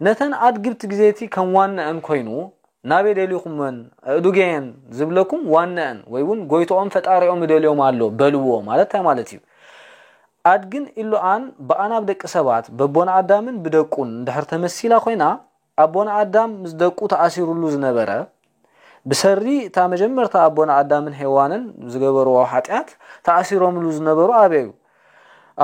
ነተን ኣድግብቲ ግዜቲ ከም ዋናእን ኮይኑ ናበይ ደሊኹመን እዱገየን ዝብለኩም ዋናእን ወይ እውን ጎይታኦም ፈጣሪኦም ይደልዮም ኣሎ በልዎ ማለት እንታይ ማለት እዩ? ኣድግን ኢሎኣን ብኣን ኣብ ደቂ ሰባት በቦና ኣዳምን ብደቁን እንድሕር ተመሲላ ኮይና ኣቦና ኣዳም ምስ ደቁ ተኣሲሩሉ ዝነበረ ብሰሪ እታ መጀመርታ ኣቦና ኣዳምን ሄዋንን ዝገበርዎ ሓጢኣት ተኣሲሮምሉ ዝነበሩ ኣበዩ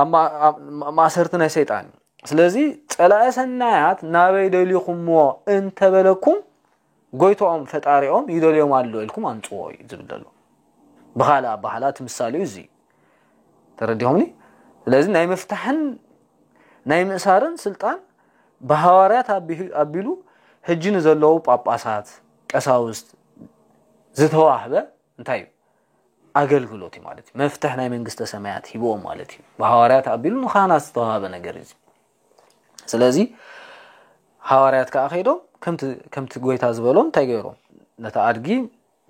ኣብ ማእሰርቲ ናይ ሰይጣን እዩ ስለዚ ጸላኢ ሰናያት ናበይ ደሊኹምዎ እንተበለኩም ጎይትኦም ፈጣሪኦም ይደልዮም ኣሎ ኢልኩም ኣምጽዎ እዩ ዝብል ዘሎ ብኻልእ ኣባህላ እቲ ምሳሌኡ እዚ እዩ ተረዲኹምኒ ስለዚ ናይ ምፍታሕን ናይ ምእሳርን ስልጣን ብሃዋርያት ኣቢሉ ህጂ ንዘለዉ ጳጳሳት ቀሳውስት ዝተዋህበ እንታይ እዩ ኣገልግሎት እዩ ማለት እዩ መፍትሕ ናይ መንግስተ ሰማያት ሂብዎም ማለት እዩ ብሃዋርያት ኣቢሉ ንኻህናት ዝተዋህበ ነገር እዩ ስለዚ ሃዋርያት ከዓ ከይዶም ከምቲ ጎይታ ዝበሎም እንታይ ገይሮም ነታ ኣድጊ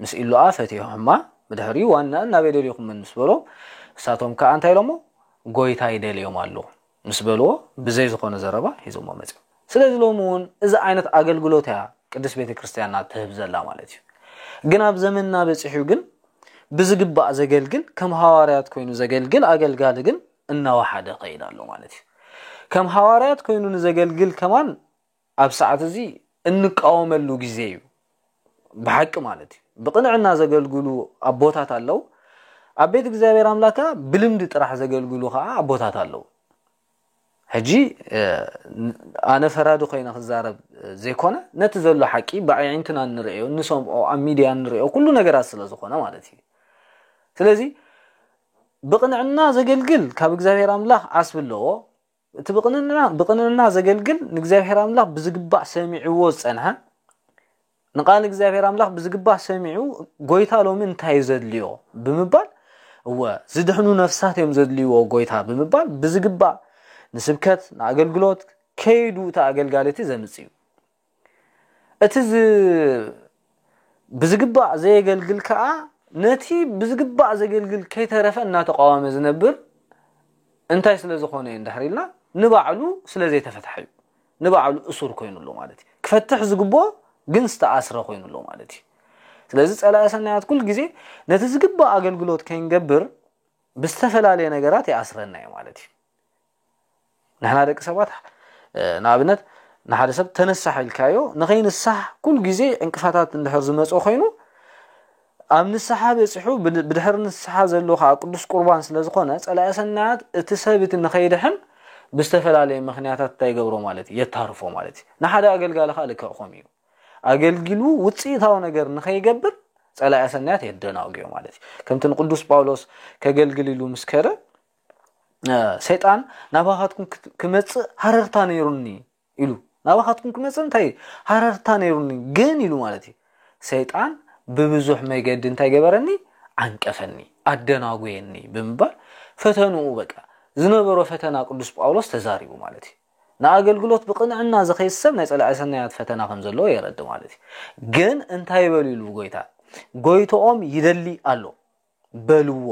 ምስ ኢሉኣ ፈትሖማ ብድሕሪኡ ዋናን ናበይ ደልኹምን ምስ በሎም እሳቶም ከዓ እንታይ ኢሎሞ ጎይታ ይደልዮም ኣሎ ምስ በልዎ ብዘይ ዝኾነ ዘረባ ሒዞሞ መፅኦም ስለዚ ሎሚ እውን እዚ ዓይነት ኣገልግሎት እያ ቅድስት ቤተ ክርስቲያንና ትህብ ዘላ ማለት እዩ ግን ኣብ ዘመንና በፂሑ ግን ብዝግባእ ዘገልግል ከም ሃዋርያት ኮይኑ ዘገልግል ኣገልጋሊ ግን እናወሓደ ኸይድ ኣሎ ማለት እዩ። ከም ሃዋርያት ኮይኑ ንዘገልግል ከማን ኣብ ሰዓት እዚ እንቃወመሉ ግዜ እዩ ብሓቂ ማለት እዩ። ብቕንዕና ዘገልግሉ ኣቦታት ኣለው። ኣብ ቤት እግዚኣብሔር ኣምላክ ከዓ ብልምዲ ጥራሕ ዘገልግሉ ከዓ ኣቦታት ኣለው። ሕጂ ኣነ ፈራዲ ኮይነ ክዛረብ ዘይኮነ ነቲ ዘሎ ሓቂ ብኣዒንትና እንርእዮ እንሰምዖ ኣብ ሚድያ እንርእዮ ኩሉ ነገራት ስለ ዝኾነ ማለት እዩ። ስለዚ ብቕንዕና ዘገልግል ካብ እግዚኣብሔር ኣምላኽ ዓስቢ ኣለዎ። እቲ ብቕንዕና ብቕንዕና ዘገልግል ንእግዚኣብሔር ኣምላኽ ብዝግባእ ሰሚዕዎ ዝጸንሐ ንቃል እግዚኣብሔር ኣምላኽ ብዝግባእ ሰሚዑ ጎይታ ሎሚ እንታይ እዩ ዘድልዮ ብምባል እወ ዝድሕኑ ነፍሳት እዮም ዘድልይዎ ጎይታ ብምባል ብዝግባእ ንስብከት ንኣገልግሎት ከይዱ እቲ ኣገልጋሊ እቲ ዘምጽ እዩ እቲ ዝ ብዝግባእ ዘየገልግል ከኣ ነቲ ብዝግባእ ዘገልግል ከይተረፈ እናተቃወመ ዝነብር እንታይ ስለ ዝኾነ እዩ እንድሕር ኢልና ንባዕሉ ስለ ዘይተፈትሐ እዩ ንባዕሉ እሱር ኮይኑ ኣሎ ማለት እዩ ክፈትሕ ዝግብኦ ግን ዝተኣስረ ኮይኑ ኣሎ ማለት እዩ ስለዚ ጸላኢ ሰናያት ኩል ግዜ ነቲ ዝግባእ ኣገልግሎት ከይንገብር ብዝተፈላለየ ነገራት ይኣስረና እዩ ማለት እዩ ንሕና ደቂ ሰባት ንኣብነት ንሓደ ሰብ ተነሳሕ ኢልካዮ ንኸይንሳሕ ኩሉ ግዜ ዕንቅፋታት እንድሕር ዝመጾ ኮይኑ ኣብ ንስሓ በፂሑ ብድሕሪ ንስሓ ዘሎ ከዓ ቅዱስ ቁርባን ስለዝኾነ ፀላኢ ሰናያት እቲ ሰብ እቲ ንኸይድሕን ብዝተፈላለየ ምክንያታት እንታይ ይገብሮ ማለት እዩ የታርፎ ማለት እዩ ንሓደ ኣገልጋሊ ከዓ ልክዕ ከምኡ እዩ ኣገልጊሉ ውፅኢታዊ ነገር ንኸይገብር ፀላኢ ሰናያት የደናጉዮ ማለት እዩ ከምቲ ንቅዱስ ጳውሎስ ከገልግል ኢሉ ምስ ከደ ሰይጣን ናባኻትኩም ክመጽእ ሃረርታ ነይሩኒ ኢሉ ናባኻትኩም ክመጽእ እንታይ ሃረርታ ነይሩኒ ግን ኢሉ ማለት እዩ ሰይጣን ብብዙሕ መገዲ እንታይ ገበረኒ ዓንቀፈኒ ኣደናጎየኒ ብምባል ፈተንኡ በቃ ዝነበሮ ፈተና ቅዱስ ጳውሎስ ተዛሪቡ ማለት እዩ ንኣገልግሎት ብቕንዕና ዝኸይድ ሰብ ናይ ጸላኢ ሰናያት ፈተና ከም ዘለዎ የረዲ ማለት እዩ ግን እንታይ በሉ ኢሉ ጎይታ ጎይቶኦም ይደሊ ኣሎ በልዎ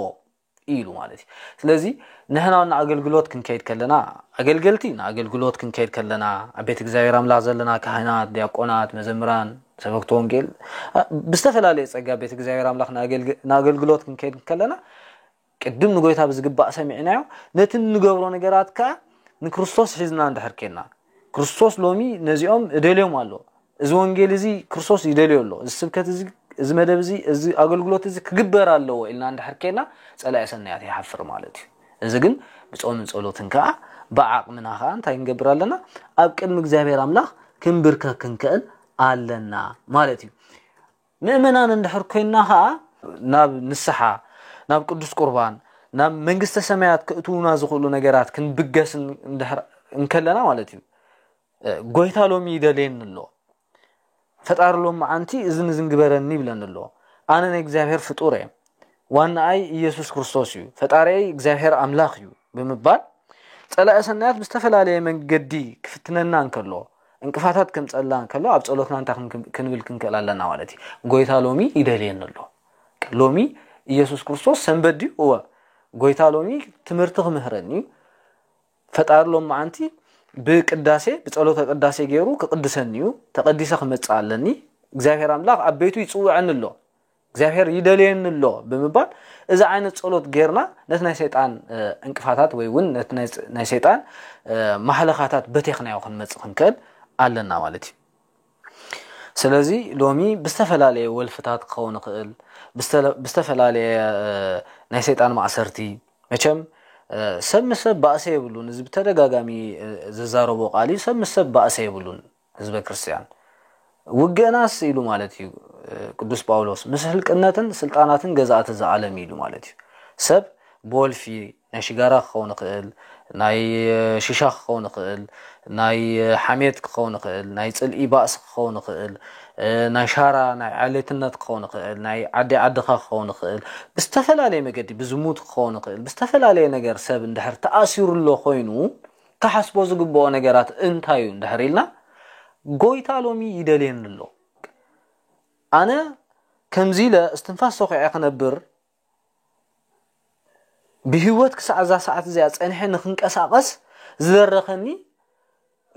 ኢሉ ማለት እዩ ስለዚ ንሕና ውን ንኣገልግሎት ክንከይድ ከለና ኣገልገልቲ ንኣገልግሎት ክንከይድ ከለና ኣብ ቤት እግዚኣብሔር ኣምላኽ ዘለና ካህናት ዲያቆናት መዘምራን ሰበክቲ ወንጌል ብዝተፈላለየ ጸጋ ቤት እግዚኣብሔር ኣምላኽ ንኣገልግሎት ክንከይድ ከለና ቅድም ንጎይታ ብዝግባእ ሰሚዕናዮ ነቲ እንገብሮ ነገራት ከዓ ንክርስቶስ ሒዝና እንድሕር ኬና ክርስቶስ ሎሚ ነዚኦም እደልዮም ኣሎ እዚ ወንጌል እዚ ክርስቶስ ይደልዮ ኣሎ እዚ ስብከት እዚ እዚ መደብ እዚ እዚ ኣገልግሎት እዚ ክግበር ኣለዎ ኢልና እንድሕር ኬና ፀላኢ ሰናያት ይሓፍር ማለት እዩ እዚ ግን ብፆምን ፀሎትን ከዓ ብዓቕምና ከዓ እንታይ ንገብር ኣለና ኣብ ቅድሚ እግዚኣብሔር ኣምላኽ ክንብርከክ ክንክእል ኣለና ማለት እዩ ምእመናን እንድሕር ኮይንና ከኣ ናብ ንስሓ፣ ናብ ቅዱስ ቁርባን፣ ናብ መንግስተ ሰማያት ከእትዉና ዝኽእሉ ነገራት ክንብገስ እንድሕር እንከለና ማለት እዩ ጎይታ ሎሚ ይደልየኒ ኣሎ ፈጣሪ ሎም መዓንቲ እዝን እዝን ግበረኒ ይብለኒ ኣሎ ኣነ ናይ እግዚኣብሔር ፍጡር እየ ዋናኣይ ኢየሱስ ክርስቶስ እዩ ፈጣሪይ እግዚኣብሔር ኣምላኽ እዩ ብምባል ጸላኢ ሰናያት ብዝተፈላለየ መንገዲ ክፍትነና እንከሎ ዕንቅፋታት ከምጸልና ከሎ ኣብ ጸሎትና እንታይ ክንብል ክንክእል ኣለና ማለት እዩ ጎይታ ሎሚ ይደልየኒ ኣሎ ሎሚ ኢየሱስ ክርስቶስ ሰንበት ድዩ እወ ጎይታ ሎሚ ትምህርቲ ክምህረኒ እዩ ፈጣሪ ሎም መዓንቲ ብቅዳሴ ብጸሎተ ቅዳሴ ገይሩ ክቅድሰኒ እዩ ተቀዲሰ ክመጽእ ኣለኒ እግዚኣብሔር ኣምላኽ ኣብ ቤቱ ይጽውዐኒ ኣሎ እግዚኣብሔር ይደልየኒ ኣሎ ብምባል እዚ ዓይነት ጸሎት ጌርና ነቲ ናይ ሰይጣን ዕንቅፋታት ወይ እውን ነቲ ናይ ሰይጣን ማህለኻታት በቴኽናዮ ክንመጽእ ክንክእል ኣለና ማለት እዩ ስለዚ ሎሚ ብዝተፈላለየ ወልፍታት ክኸውን ይኽእል ብዝተፈላለየ ናይ ሰይጣን ማእሰርቲ መቸም ሰብ ምስ ሰብ ባእሰ የብሉን እዚ ብተደጋጋሚ ዝዛረቦ ቃል እዩ ሰብ ምስ ሰብ ባእሰ የብሉን ህዝበ ክርስቲያን ውገናስ ኢሉ ማለት እዩ ቅዱስ ጳውሎስ ምስ ህልቅነትን ስልጣናትን ገዛእቲ ዝዓለም ኢሉ ማለት እዩ ሰብ ብወልፊ ናይ ሽጋራ ክኸውን ይኽእል ናይ ሽሻ ክኸውን ይኽእል ናይ ሓሜት ክኸውን ይኽእል ናይ ፅልኢ ባእሲ ክኸውን ይኽእል ናይ ሻራ ናይ ዓሌትነት ክኸውን ይኽእል ናይ ዓዲ ዓድኻ ክኸውን ይኽእል ብዝተፈላለየ መገዲ ብዝሙት ክኸውን ይኽእል ብዝተፈላለየ ነገር ሰብ እንድሕር ተኣሲሩ ኣሎ ኮይኑ ክሓስቦ ዝግብኦ ነገራት እንታይ እዩ እንድሕር ኢልና ጎይታ ሎሚ ይደልየኒ ኣሎ ኣነ ከምዚ ኢለ እስትንፋስ ተኺዐ ክነብር ብህይወት ክሳዕ እዛ ሰዓት እዚኣ ጸኒሐ ንክንቀሳቐስ ዝደረኸኒ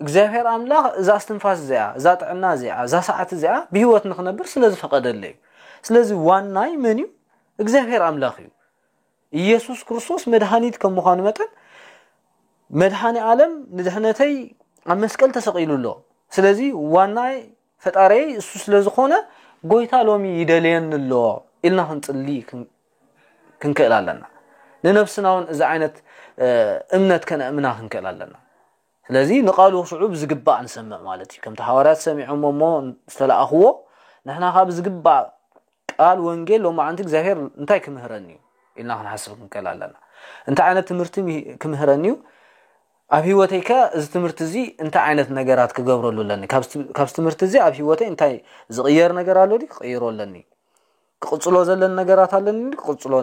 እግዚኣብሔር ኣምላኽ እዛ እስትንፋስ እዚኣ እዛ ጥዕና እዚኣ እዛ ሰዓት እዚኣ ብህይወት ንክነብር ስለ ዝፈቐደለይ እዩ ስለዚ ዋናይ መን እዩ እግዚኣብሔር ኣምላኽ እዩ ኢየሱስ ክርስቶስ መድኃኒት ከም ምዃኑ መጠን መድኃኒ ዓለም ንድሕነተይ ኣብ መስቀል ተሰቒሉ ኣሎ ስለዚ ዋናይ ፈጣሪይ እሱ ስለ ዝኾነ ጎይታ ሎሚ ይደልየኒ ኣሎ ኢልና ክንጽሊ ክንክእል ኣለና ንነብስና እውን እዚ ዓይነት እምነት ከነእምና ክንክእል ኣለና ስለዚ ንቓሉ ክስዕቡ ብዝግባእ ንሰምዕ ማለት እዩ። ከምቲ ሃዋርያት ሰሚዖሞ እሞ ዝተለኣኽዎ፣ ንሕና ከኣ ብዝግባእ ቃል ወንጌል ሎማዕንቲ እግዚኣብሄር እንታይ ክምህረኒ እዩ ኢልና ክንሓስብ ክንከል ኣለና። እንታይ ዓይነት ትምህርቲ ክምህረኒ እዩ ኣብ ህይወተይ ከ እዚ ትምህርቲ እዚ እንታይ ዓይነት ነገራት ክገብረሉ ኣለኒ ካብዚ ትምህርቲ እዚ ኣብ ህይወተይ እንታይ ዝቕየር ነገር ኣሎ ክቕይሮ ኣለኒ ክቕጽሎ ዘለን ነገራት ኣለኒ ድዩ ክቕጽሎ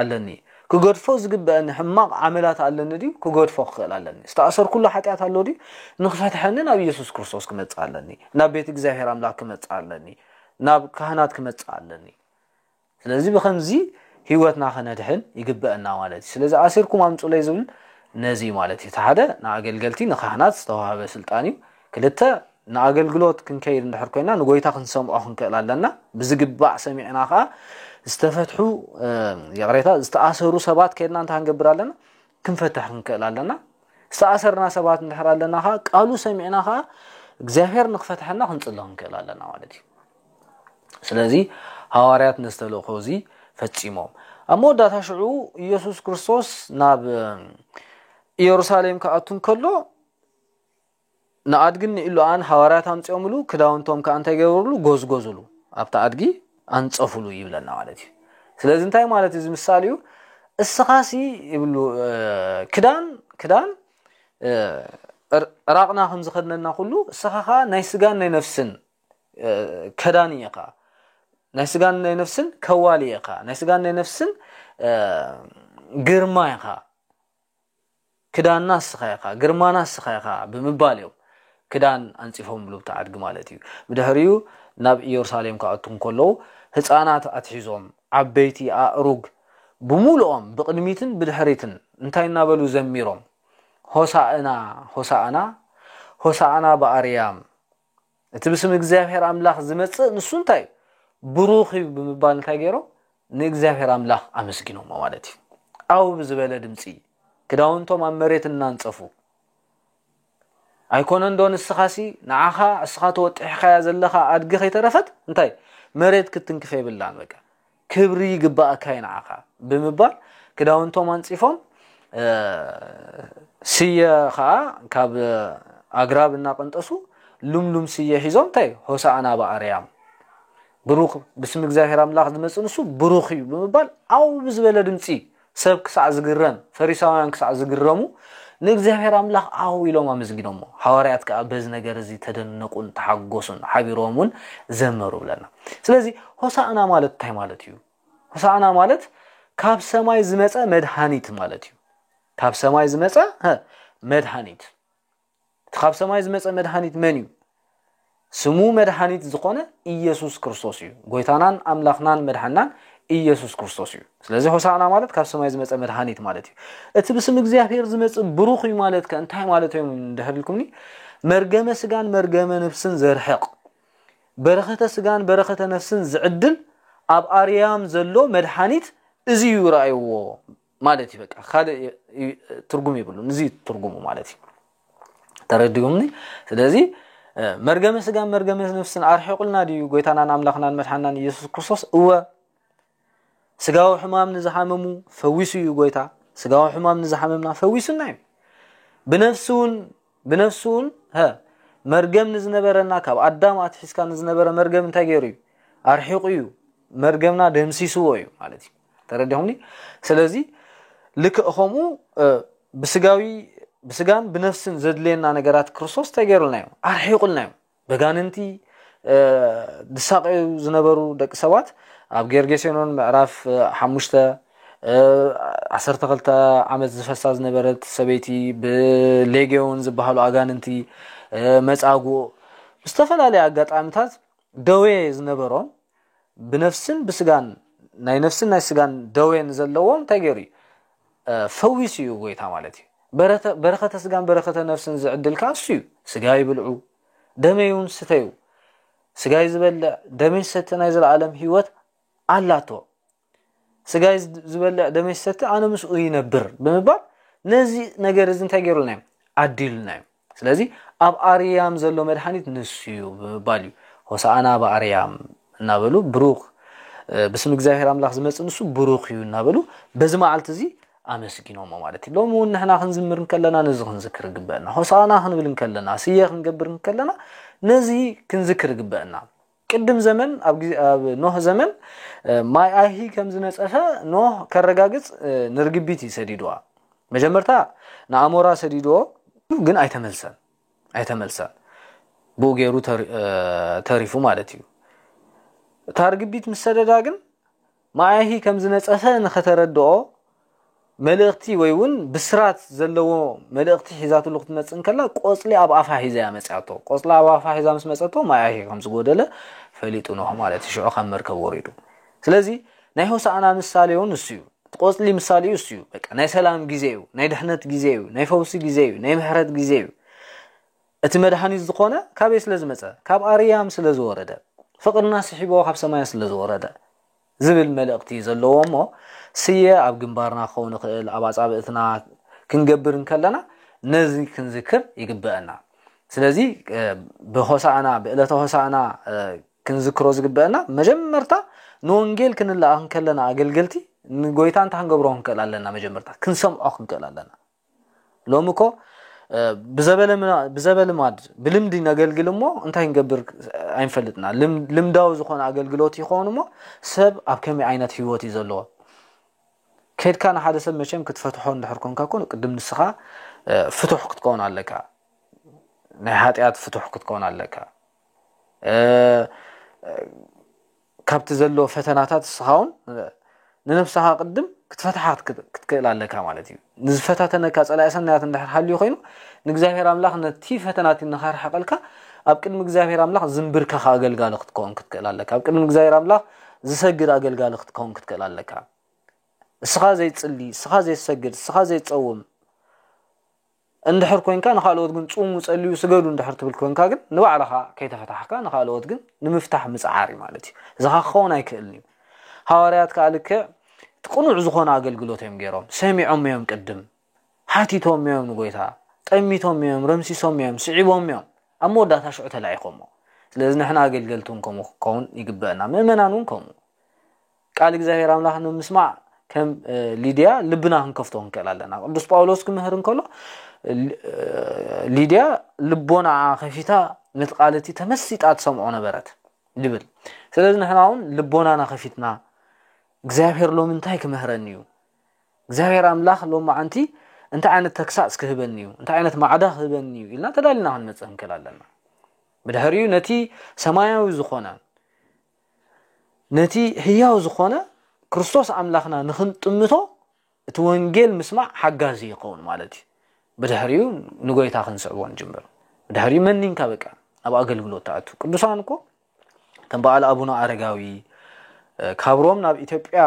ኣለኒ ክገድፎ ዝግበአኒ ሕማቕ ዓመላት ኣለኒ ድዩ ክገድፎ ክኽእል ኣለኒ ዝተኣሰርኩሉ ሓጢኣት ኣሎ ድዩ ንክፈትሐኒ ናብ ኢየሱስ ክርስቶስ ክመጽእ ኣለኒ ናብ ቤት እግዚኣብሔር ኣምላክ ክመጽእ ኣለኒ ናብ ካህናት ክመጽእ ኣለኒ ስለዚ ብከምዚ ህይወትና ከነድሕን ይግበአና ማለት እዩ ስለዚ ኣሲርኩም ኣምፁለይ ዝብል ነዚ ማለት እዩ እቲ ሓደ ንኣገልገልቲ ንካህናት ዝተዋሃበ ስልጣን እዩ ክልተ ንኣገልግሎት ክንከይድ እንድሕር ኮይና ንጎይታ ክንሰምዖ ክንክእል ኣለና ብዝግባእ ሰሚዕና ከኣ ዝተፈትሑ ይቕሬታ ዝተኣሰሩ ሰባት ከድና እንታይ ክንገብር ኣለና ክንፈትሕ ክንክእል ኣለና ዝተኣሰርና ሰባት እንድሕር ኣለና ከኣ ቃሉ ሰሚዕና ከኣ እግዚኣብሔር ንክፈትሐና ክንጽሎ ክንክእል ኣለና ማለት እዩ ስለዚ ሃዋርያት ነዚ ተልእኮ እዚ ፈጺሞም ኣብ መወዳእታ ሽዑ ኢየሱስ ክርስቶስ ናብ ኢየሩሳሌም ክኣቱ እንከሎ ንኣድግን ንኢሉኣን ሃዋርያት ኣምጺኦምሉ፣ ክዳውንቶም ከኣ እንታይ ገበሩሉ? ጎዝጎዙሉ፣ ኣብታ ኣድጊ ኣንጸፉሉ ይብለና ማለት እዩ። ስለዚ እንታይ ማለት እዩ እዚ ምሳል እዩ? እስኻሲ ይብሉ ክዳን ክዳን ዕራቕና ከም ዝኸድነና ኩሉ እስኻ ከኣ ናይ ስጋን ናይ ነፍስን ከዳን እየኻ ናይ ስጋን ናይ ነፍስን ከዋሊ እየኻ ናይ ስጋን ናይ ነፍስን ግርማ ኢኻ ክዳንና ንስኻ ኢኻ፣ ግርማና ንስኻ ኢኻ ብምባል እዮም ክዳን ኣንጺፎምሉብቲ ኣድጊ ማለት እዩ። ብድሕሪኡ ናብ ኢየሩሳሌም ክኣትዉ እንከለዉ ህጻናት ኣትሒዞም ዓበይቲ ኣእሩግ ብምሉኦም ብቕድሚትን ብድሕሪትን እንታይ እናበሉ ዘሚሮም ሆሳእና ሆሳእና ሆሳእና ብኣርያም እቲ ብስም እግዚኣብሔር ኣምላኽ ዝመጽእ ንሱ እንታይ እዩ ብሩኽ እዩ ብምባል እንታይ ገይሮም ንእግዚኣብሔር ኣምላኽ ኣመስጊኖሞ ማለት እዩ ኣው ብዝበለ ድምፂ ክዳውንቶም ኣብ መሬት እናንፀፉ ኣይኮነ እንዶ ንስኻሲ ንዓኻ እስኻ ተወጢሕካያ ዘለኻ ኣድጊ ከይተረፈት እንታይ መሬት ክትንክፍ የብላን በቃ ክብሪ ይግበኣካ እዩ ንዓኻ ብምባል ክዳውንቶም ኣንጺፎም ስየ ኸኣ ካብ ኣግራብ እናቐንጠሱ ልምሉም ስየ ሒዞም እንታይ ሆሳእና በኣርያም ብሩኽ ብስም እግዚኣብሔር ኣምላኽ ዝመጽእ ንሱ ብሩኽ እዩ ብምባል ዓው ብዝበለ ድምጺ ሰብ ክሳዕ ዝግረም፣ ፈሪሳውያን ክሳዕ ዝግረሙ፣ ንእግዚኣብሄር ኣምላኽ ዓው ኢሎም ኣመስጊኖሞ። ሃዋርያት ከኣ በዚ ነገር እዚ ተደነቑን ተሓጐሱን፣ ሓቢሮም እውን ዘመሩ ብለና። ስለዚ ሆሳእና ማለት እንታይ ማለት እዩ? ሆሳእና ማለት ካብ ሰማይ ዝመጸ መድሃኒት ማለት እዩ። ካብ ሰማይ ዝመጸ መድሃኒት። እቲ ካብ ሰማይ ዝመጸ መድሃኒት መን እዩ? ስሙ መድሃኒት ዝኾነ ኢየሱስ ክርስቶስ እዩ። ጎይታናን ኣምላኽናን መድሓናን ኢየሱስ ክርስቶስ እዩ። ስለዚ ሆሳዕና ማለት ካብ ሰማይ ዝመጸ መድሃኒት ማለት እዩ። እቲ ብስም እግዚኣብሔር ዝመጽእ ብሩኽ እዩ ማለት ከ እንታይ ማለት እዮም እንድሕር ኢልኩምኒ መርገመ ስጋን መርገመ ነፍስን ዘርሕቕ በረኸተ ስጋን በረኸተ ነፍስን ዝዕድል ኣብ ኣርያም ዘሎ መድሓኒት እዚ እዩ ረኣይዎ ማለት እዩ በቃ ካልእ ትርጉም ይብሉ ንዚ ትርጉሙ ማለት እዩ ተረዲኡምኒ ስለዚ መርገመ ስጋን መርገመ ነፍስን ኣርሒቁልና ድዩ ጎይታናን ኣምላኽናን መድሓናን ኢየሱስ ክርስቶስ እወ ስጋዊ ሕማም ንዝሓመሙ ፈዊሱ እዩ ጎይታ ስጋዊ ሕማም ንዝሓመምና ፈዊሱና እዩ ብነፍሲ እውን ብነፍሱ እውን ሀ መርገም ንዝነበረና ካብ ኣዳም ኣትሒዝካ ንዝነበረ መርገም እንታይ ገይሩ እዩ ኣርሒቑ እዩ መርገምና ደምሲስዎ እዩ ማለት እዩ ተረዲኹምኒ ስለዚ ልክእ ከምኡ ብስጋዊ ብስጋን ብነፍስን ዘድልየና ነገራት ክርስቶስ እንታይ ገይሩልና እዩ ኣርሒቑልና እዩ በጋንንቲ ዝሳቀዩ ዝነበሩ ደቂ ሰባት ኣብ ጌርጌሴኖን ምዕራፍ ሓሙሽተ ዓሰርተ ክልተ ዓመት ዝፈሳ ዝነበረት ሰበይቲ ብሌጌውን ዝበሃሉ ኣጋንንቲ መጻጉእ ብዝተፈላለየ ኣጋጣሚታት ደዌ ዝነበሮም ብነፍስን ብስጋን ናይ ነፍስን ናይ ስጋን ደዌ ንዘለዎም እንታይ ገይሩ እዩ ፈዊሱ እዩ ጎይታ ማለት እዩ በረከተ ስጋን በረከተ ነፍስን ዝዕድል ከኣ እሱ እዩ ስጋይ ብልዑ ደመይ እውን ስተዩ ስጋይ ዝበልዕ ደመይ ዝሰቲ ናይ ዘለኣለም ህይወት ኣላቶ ስጋይ ዝበልዕ ደመይ ዝሰቲ ኣነ ምስኡ ይነብር ብምባል ነዚ ነገር እዚ እንታይ ገይሩልና እዮም ዓዲሉና እዮም ስለዚ ኣብ ኣርያም ዘሎ መድሓኒት ንሱ እዩ ብምባል እዩ ሆሳእና ብኣርያም እናበሉ ብሩኽ ብስም እግዚኣብሔር ኣምላኽ ዝመጽእ ንሱ ብሩኽ እዩ እናበሉ በዚ መዓልቲ እዚ ኣመስጊኖሞ ማለት እዩ ሎሚ እውን ንሕና ክንዝምር እንከለና ነዚ ክንዝክር ይግበአና ሆሳእና ክንብል እንከለና ስየ ክንገብር እንከለና ነዚ ክንዝክር ይግበአና ቅድም ዘመን ኣብ ኖህ ዘመን ማይ ኣይሂ ከም ዝነጸፈ ኖህ ከረጋግጽ ንርግቢት እዩ ሰዲድዋ መጀመርታ ንኣሞራ ሰዲድዎ ግን ኣይተመልሰን ኣይተመልሰን ብኡ ገይሩ ተሪፉ ማለት እዩ እታ ርግቢት ምስ ሰደዳ ግን መኣይሂ ከም ዝነጸፈ ንኸተረድኦ መልእኽቲ ወይ ውን ብስራት ዘለዎ መልእኽቲ ሒዛትሉ ክትመጽእ እንከላ ቆጽሊ ኣብ ኣፋ ሒዛ እያ መጽያቶ ቆጽላ ኣብ ኣፋ ሒዛ ምስ መጸቶ መኣይሂ ከም ዝጎደለ ፈሊጡ ኖህ ማለት እዩ ሽዑ ካብ መርከብ ወሪዱ ስለዚ ናይ ሆሳእና ምሳሌ ውን ንሱ እዩ እቲ ቆጽሊ ምሳሌ እዩ እሱ እዩ በቃ ናይ ሰላም ግዜ እዩ ናይ ድሕነት ግዜ እዩ ናይ ፈውሲ ግዜ እዩ ናይ ምሕረት ግዜ እዩ እቲ መድኃኒት ዝኾነ ካበይ ስለ ዝመጸ? ካብ ኣርያም ስለ ዝወረደ፣ ፍቕርና ስሒብዎ ካብ ሰማያት ስለ ዝወረደ ዝብል መልእኽቲ እዩ ዘለዎ እሞ ስየ ኣብ ግንባርና ክኸውን ይኽእል ኣብ ኣጻብእትና ክንገብር እንከለና ነዚ ክንዝክር ይግበእና። ስለዚ ብሆሳእና ብእለተ ሆሳእና ክንዝክሮ ዝግበእና መጀመርታ ንወንጌል ክንለኣኽ እንከለና ኣገልገልቲ ንጎይታ እንታይ ክንገብሮ ክንክእል ኣለና መጀመርታ ክንሰምዖ ክንክእል ኣለና። ሎሚ እኮ ብዘበልማድ ብልምዲ ነገልግል እሞ እንታይ ንገብር ኣይንፈልጥና ልምዳዊ ዝኾነ ኣገልግሎት ይኸውን እሞ ሰብ ኣብ ከመይ ዓይነት ህይወት እዩ ዘለዎ ከድካ ንሓደ ሰብ መቸም ክትፈትሖ እንድሕር ኮንካ ኮን ቅድም ንስኻ ፍቱሕ ክትከውን ኣለካ ናይ ሃጢኣት ፍቱሕ ክትከውን ኣለካ ካብቲ ዘሎ ፈተናታት እስኻውን ንነብስኻ ቅድም ክትፈትሓ ክትክእል ኣለካ ማለት እዩ ንዝፈታተነካ ፀላኢ ሰናያት እንድሕር ሃልዩ ኮይኑ ንእግዚኣብሔር ኣምላኽ ነቲ ፈተናቲ ንኸርሕቐልካ ኣብ ቅድሚ እግዚኣብሔር ኣምላኽ ዝንብርከኽ ኣገልጋሊ ክትከውን ክትክእል ኣለካ ኣብ ቅድሚ እግዚኣብሔር ኣምላኽ ዝሰግድ ኣገልጋሊ ክትከውን ክትክእል ኣለካ እስኻ ዘይፅሊ እስኻ ዘይሰግድ እስኻ ዘይፀውም እንድሕር ኮንካ ንኻልኦት ግን ጹሙ ጸልዩ ስገዱ እንድሕር ትብል ኮንካ ግን ንባዕልኻ ከይተፈታሕካ ንኻልኦት ግን ንምፍታሕ ምጽዓር እዩ ማለት እዩ እዚኻ ክኸውን ኣይክእልን እዩ ሃዋርያት ከዓ ልክዕ እቲ ቅኑዕ ዝኾነ ኣገልግሎት እዮም ገይሮም ሰሚዖም እዮም ቅድም ሓቲቶም እዮም ንጎይታ ጠሚቶም እዮም ረምሲሶም እዮም ስዒቦም እዮም ኣብ መወዳእታ ሽዑ ተላኢኾሞ ስለዚ ንሕና ኣገልገልቲ እውን ከምኡ ክንከውን ይግበአና ምእመናን እውን ከምኡ ቃል እግዚኣብሔር ኣምላኽ ንምስማዕ ከም ሊድያ ልብና ክንከፍቶ ክንክእል ኣለና። ቅዱስ ጳውሎስ ክምህር እንከሎ ሊድያ ልቦናኣ ከፊታ ነቲ ቃል እቲ ተመሲጣ ትሰምዖ ነበረት ይብል። ስለዚ ንሕና እውን ልቦናና ከፊትና እግዚኣብሔር ሎሚ እንታይ ክምህረኒ እዩ እግዚኣብሔር ኣምላኽ ሎም መዓንቲ እንታይ ዓይነት ተግሳፅ ክህበኒ እዩ እንታይ ዓይነት ማዕዳ ክህበኒ እዩ ኢልና ተዳሊና ክንመፅእ ክንክእል ኣለና ብድሕሪኡ ነቲ ሰማያዊ ዝኾነ ነቲ ህያው ዝኾነ ክርስቶስ ኣምላኽና ንኽንጥምቶ እቲ ወንጌል ምስማዕ ሓጋዚ ይኸውን ማለት እዩ ብድሕሪኡ ንጎይታ ክንስዕቦ ንጅምር ብድሕሪኡ መኒንካ በቃ ናብ ኣገልግሎት ትኣቱ ቅዱሳን እኮ ከም በዓል ኣቡነ ኣረጋዊ ካብ ሮም ናብ ኢትዮጵያ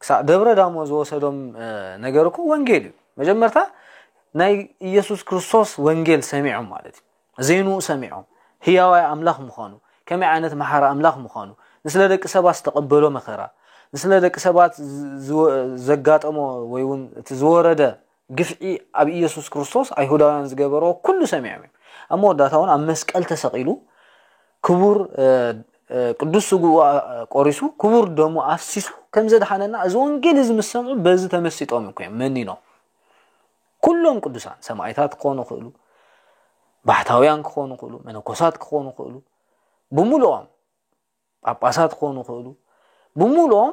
ክሳዕ ደብረ ዳሞ ዝወሰዶም ነገር እኮ ወንጌል እዩ መጀመርታ ናይ ኢየሱስ ክርስቶስ ወንጌል ሰሚዖም ማለት እዩ ዜንኡ ሰሚዖም ህያዋይ ኣምላኽ ምዃኑ ከመይ ዓይነት መሓሪ ኣምላኽ ምዃኑ ንስለ ደቂ ሰባት ዝተቐበሎ መከራ ንስለ ደቂ ሰባት ዘጋጠሞ ወይ እውን እቲ ዝወረደ ግፍዒ ኣብ ኢየሱስ ክርስቶስ ኣይሁዳውያን ዝገበሮ ኩሉ ሰሚዖም እዮም ኣብ መወዳእታ እውን ኣብ መስቀል ተሰቒሉ ክቡር ቅዱስ ስግኡ ቆሪሱ ክቡር ደሙ ኣፍሲሱ ከም ዘድሓነና እዚ ወንጌል እዚ ምስ ሰምዑ በዚ ተመሲጦም እኮ እዮም መኒኖም ኩሎም ቅዱሳን ሰማይታት ክኾኑ ክእሉ ባሕታውያን ክኾኑ ክእሉ መነኮሳት ክኾኑ ክእሉ ብምሉኦም ጳጳሳት ክኾኑ ክእሉ ብምሉኦም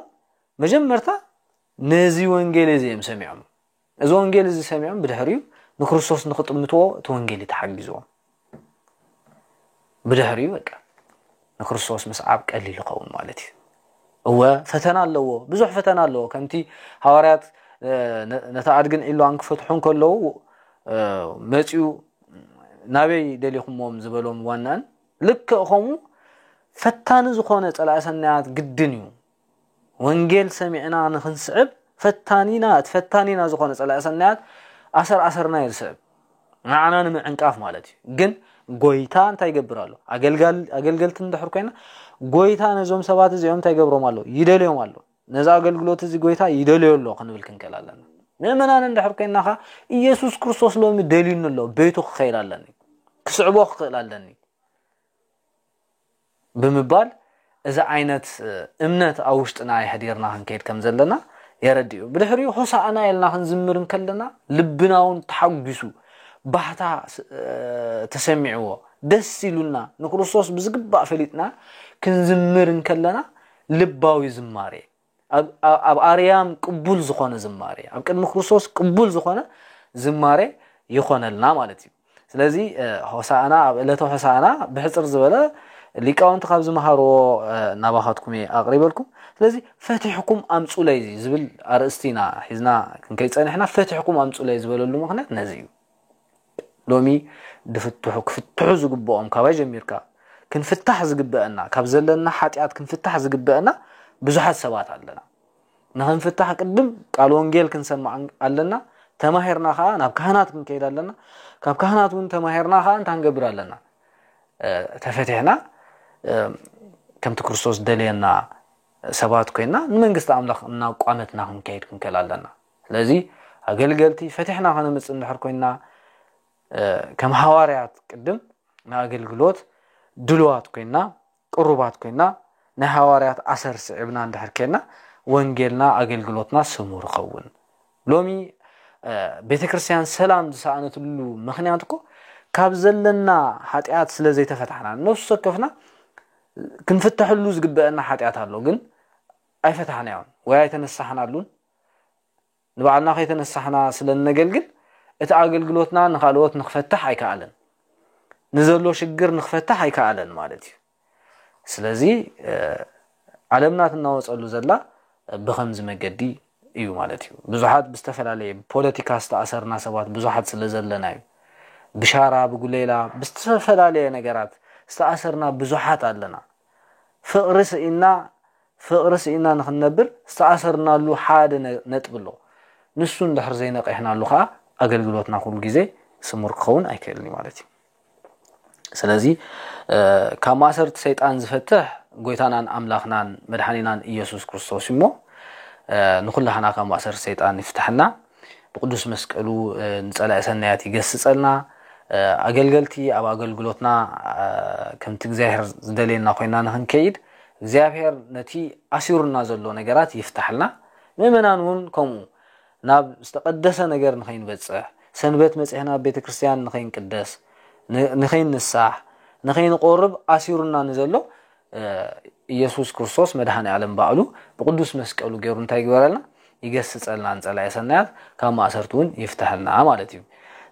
መጀመርታ ነዚ ወንጌል እዚ እዮም ሰሚዖም እዚ ወንጌል እዚ ሰሚዖም ብድሕሪኡ ንክርስቶስ ንክጥምትዎ እቲ ወንጌል እዩ ተሓጊዝዎም ብድሕሪኡ በቃ ንክርስቶስ ምስዓብ ቀሊል ይኸውን ማለት እዩ እወ ፈተና ኣለዎ ብዙሕ ፈተና ኣለዎ ከምቲ ሃዋርያት ነቲ ኣድግን ዒሏን ክፈትሑ ከለዉ መፅኡ ናበይ ደሊኹሞም ዝበሎም ዋናን ልክእ ከምኡ ፈታኒ ዝኾነ ፀላእ ሰናያት ግድን እዩ ወንጌል ሰሚዕና ንክንስዕብ ፈታኒና እቲ ፈታኒና ዝኾነ ጸላኢ ሰናያት ኣሰር ኣሰርና እዩ ዝስዕብ ንዓና ንምዕንቃፍ ማለት እዩ ግን ጎይታ እንታይ ይገብር ኣሎ ኣገልገልቲ እንድሕር ኮይና ጎይታ ነዞም ሰባት እዚኦም እንታይ ይገብሮም ኣሎ ይደልዮም ኣሎ ነዚ ኣገልግሎት እዚ ጎይታ ይደልዮ ኣሎ ክንብል ክንክእል ኣለና ምእመናን እንድሕር ኮይና ኸ ኢየሱስ ክርስቶስ ሎሚ ደልዩኒ ኣሎ ቤቱ ክኸይድ ኣለኒ ክስዕቦ ክኽእል ኣለኒ ብምባል እዚ ዓይነት እምነት ኣብ ውሽጥና የሕዲርና ክንከይድ ከም ዘለና የረድእዩ ብድሕሪኡ ሆሳእና ኢልና ክንዝምር እንከለና ልብና እውን ተሓጒሱ ባህታ ተሰሚዕዎ ደስ ኢሉና ንክርስቶስ ብዝግባእ ፈሊጥና ክንዝምር እንከለና ልባዊ ዝማሬ ኣብ ኣርያም ቅቡል ዝኾነ ዝማሬ ኣብ ቅድሚ ክርስቶስ ቅቡል ዝኾነ ዝማሬ ይኾነልና ማለት እዩ ስለዚ ሆሳእና ኣብ ዕለተ ሆሳእና ብሕፅር ዝበለ ሊቃውንቲ ካብ ዝመሃርዎ ናባኻትኩም እየ ኣቕሪበልኩም ስለዚ ፈትሕኩም ኣምፁለይ ዝብል ኣርእስቲ ኢና ሒዝና ክንከይፀንሕና ፈትሕኩም ኣምፁለይ ዝበለሉ ምክንያት ነዚ እዩ ሎሚ ድፍትሑ ክፍትሑ ዝግብኦም ካባይ ጀሚርካ ክንፍታሕ ዝግበእና ካብ ዘለና ሓጥያት ክንፍታሕ ዝግበእና ብዙሓት ሰባት ኣለና ንክንፍታሕ ቅድም ቃል ወንጌል ክንሰማዕ ኣለና ተማሂርና ከዓ ናብ ካህናት ክንከይድ ኣለና ካብ ካህናት እውን ተማሂርና ከዓ እንታይ ንገብር ኣለና ተፈቲሕና ከምቲ ክርስቶስ ደልየና ሰባት ኮይና ንመንግስቲ ኣምላኽ እናቋመትና ክንከይድ ክንከል ኣለና ስለዚ ኣገልገልቲ ፈቲሕና ከነምፅእ እንድሕር ኮይንና ከም ሃዋርያት ቅድም ንኣገልግሎት ድልዋት ኮይንና ቅሩባት ኮይንና ናይ ሃዋርያት ኣሰር ስዒብና እንድሕር ከይና ወንጌልና ኣገልግሎትና ስሙር ይኸውን ሎሚ ቤተ ክርስትያን ሰላም ዝሰኣነትሉ ምክንያት እኮ ካብ ዘለና ሓጢኣት ስለ ዘይተፈታሕና ነፍሱ ወከፍና ክንፍተሐሉ ዝግበአና ሓጢኣት ኣሎ ግን ኣይፈታሕናዮን ወይ ኣይተነሳሕናሉን ንባዕልና ከይተነሳሕና ስለ እነገልግል እቲ ኣገልግሎትና ንካልኦት ንክፈትሕ ኣይከኣለን ንዘሎ ሽግር ንክፈትሕ ኣይከኣለን ማለት እዩ ስለዚ ዓለምና ትናወፀሉ ዘላ ብከምዚ መገዲ እዩ ማለት እዩ ብዙሓት ብዝተፈላለየ ፖለቲካ ዝተኣሰርና ሰባት ብዙሓት ስለ ዘለና እዩ ብሻራ ብጉሌላ ብዝተፈላለየ ነገራት ዝተኣሰርና ብዙሓት ኣለና ፍቕሪ ስኢና ፍቕሪ ስኢንና ንኽንነብር ዝተኣሰርናሉ ሓደ ነጥቢ ኣሎ። ንሱ እንድሕር ዘይነቒሕናሉ ከኣ ኣገልግሎትና ኩሉ ግዜ ስሙር ክኸውን ኣይክእልን እዩ ማለት እዩ። ስለዚ ካብ ማእሰርቲ ሰይጣን ዝፈትሕ ጎይታናን ኣምላኽናን መድሓኒናን ኢየሱስ ክርስቶስ እዩ እሞ ንኹላህና ካብ ማእሰርቲ ሰይጣን ይፍትሐና። ብቅዱስ መስቀሉ ንጸላኢ ሰናያት ይገስጸልና። ኣገልገልቲ ኣብ ኣገልግሎትና ከምቲ እግዚኣብሔር ዝደልየና ኮይና ንክንከይድ እግዚኣብሔር ነቲ ኣሲሩና ዘሎ ነገራት ይፍታሕልና። ምእመናን እውን ከምኡ ናብ ዝተቀደሰ ነገር ንኸይንበጽሕ ሰንበት መጺሕና ኣብ ቤተ ክርስቲያን ንኸይንቅደስ ንኸይንሳሕ ንኸይንቆርብ ኣሲሩና ንዘሎ ኢየሱስ ክርስቶስ መድኃኔ ዓለም ባዕሉ ብቅዱስ መስቀሉ ገይሩ እንታይ ይግበረልና ይገስጸልና ንጸላኢ ሰናያት ካብ ማእሰርቲ እውን ይፍተሐልና ማለት እዩ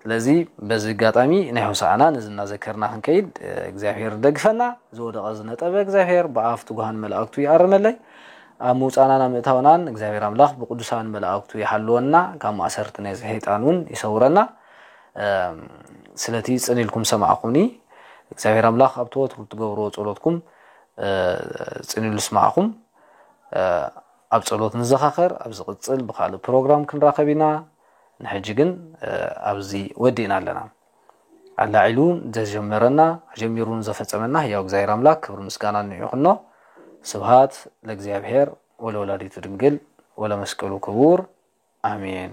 ስለዚ በዚ ኣጋጣሚ ናይ ሆሳዕና ነዚ እናዘከርና ክንከይድ እግዚኣብሔር ደግፈና ዝወደቐ ዝነጠበ እግዚኣብሔር ብኣፍ ትጉሃን መላእክቱ ይኣርመለይ ኣብ ምውፃእናን ኣብ ምእታውናን እግዚኣብሔር ኣምላኽ ብቅዱሳን መላእክቱ ይሓልወና ካብ ማእሰርቲ ናይ ሰይጣን እውን ይሰውረና ስለቲ ጽን ኢልኩም ሰማዕኹምኒ እግዚኣብሔር ኣምላኽ ኣብቲ ወትሩ እትገብርዎ ጸሎትኩም ጽን ኢሉ ስማዕኹም ኣብ ጸሎት ንዘኻኸር ኣብ ዝቕጽል ብካልእ ፕሮግራም ክንራኸብ ኢና ንሕጂ ግን ኣብዚ ወዲእና ኣለና ኣላዒሉ ዘጀመረና ጀሚሩን ዘፈጸመና ህያው እግዚኣብሔር ኣምላክ ክብሪ ምስጋና ንይኹኖ ስብሃት ለእግዚኣብሔር ወለወላዲቱ ድንግል ወለመስቀሉ ክቡር ኣሜን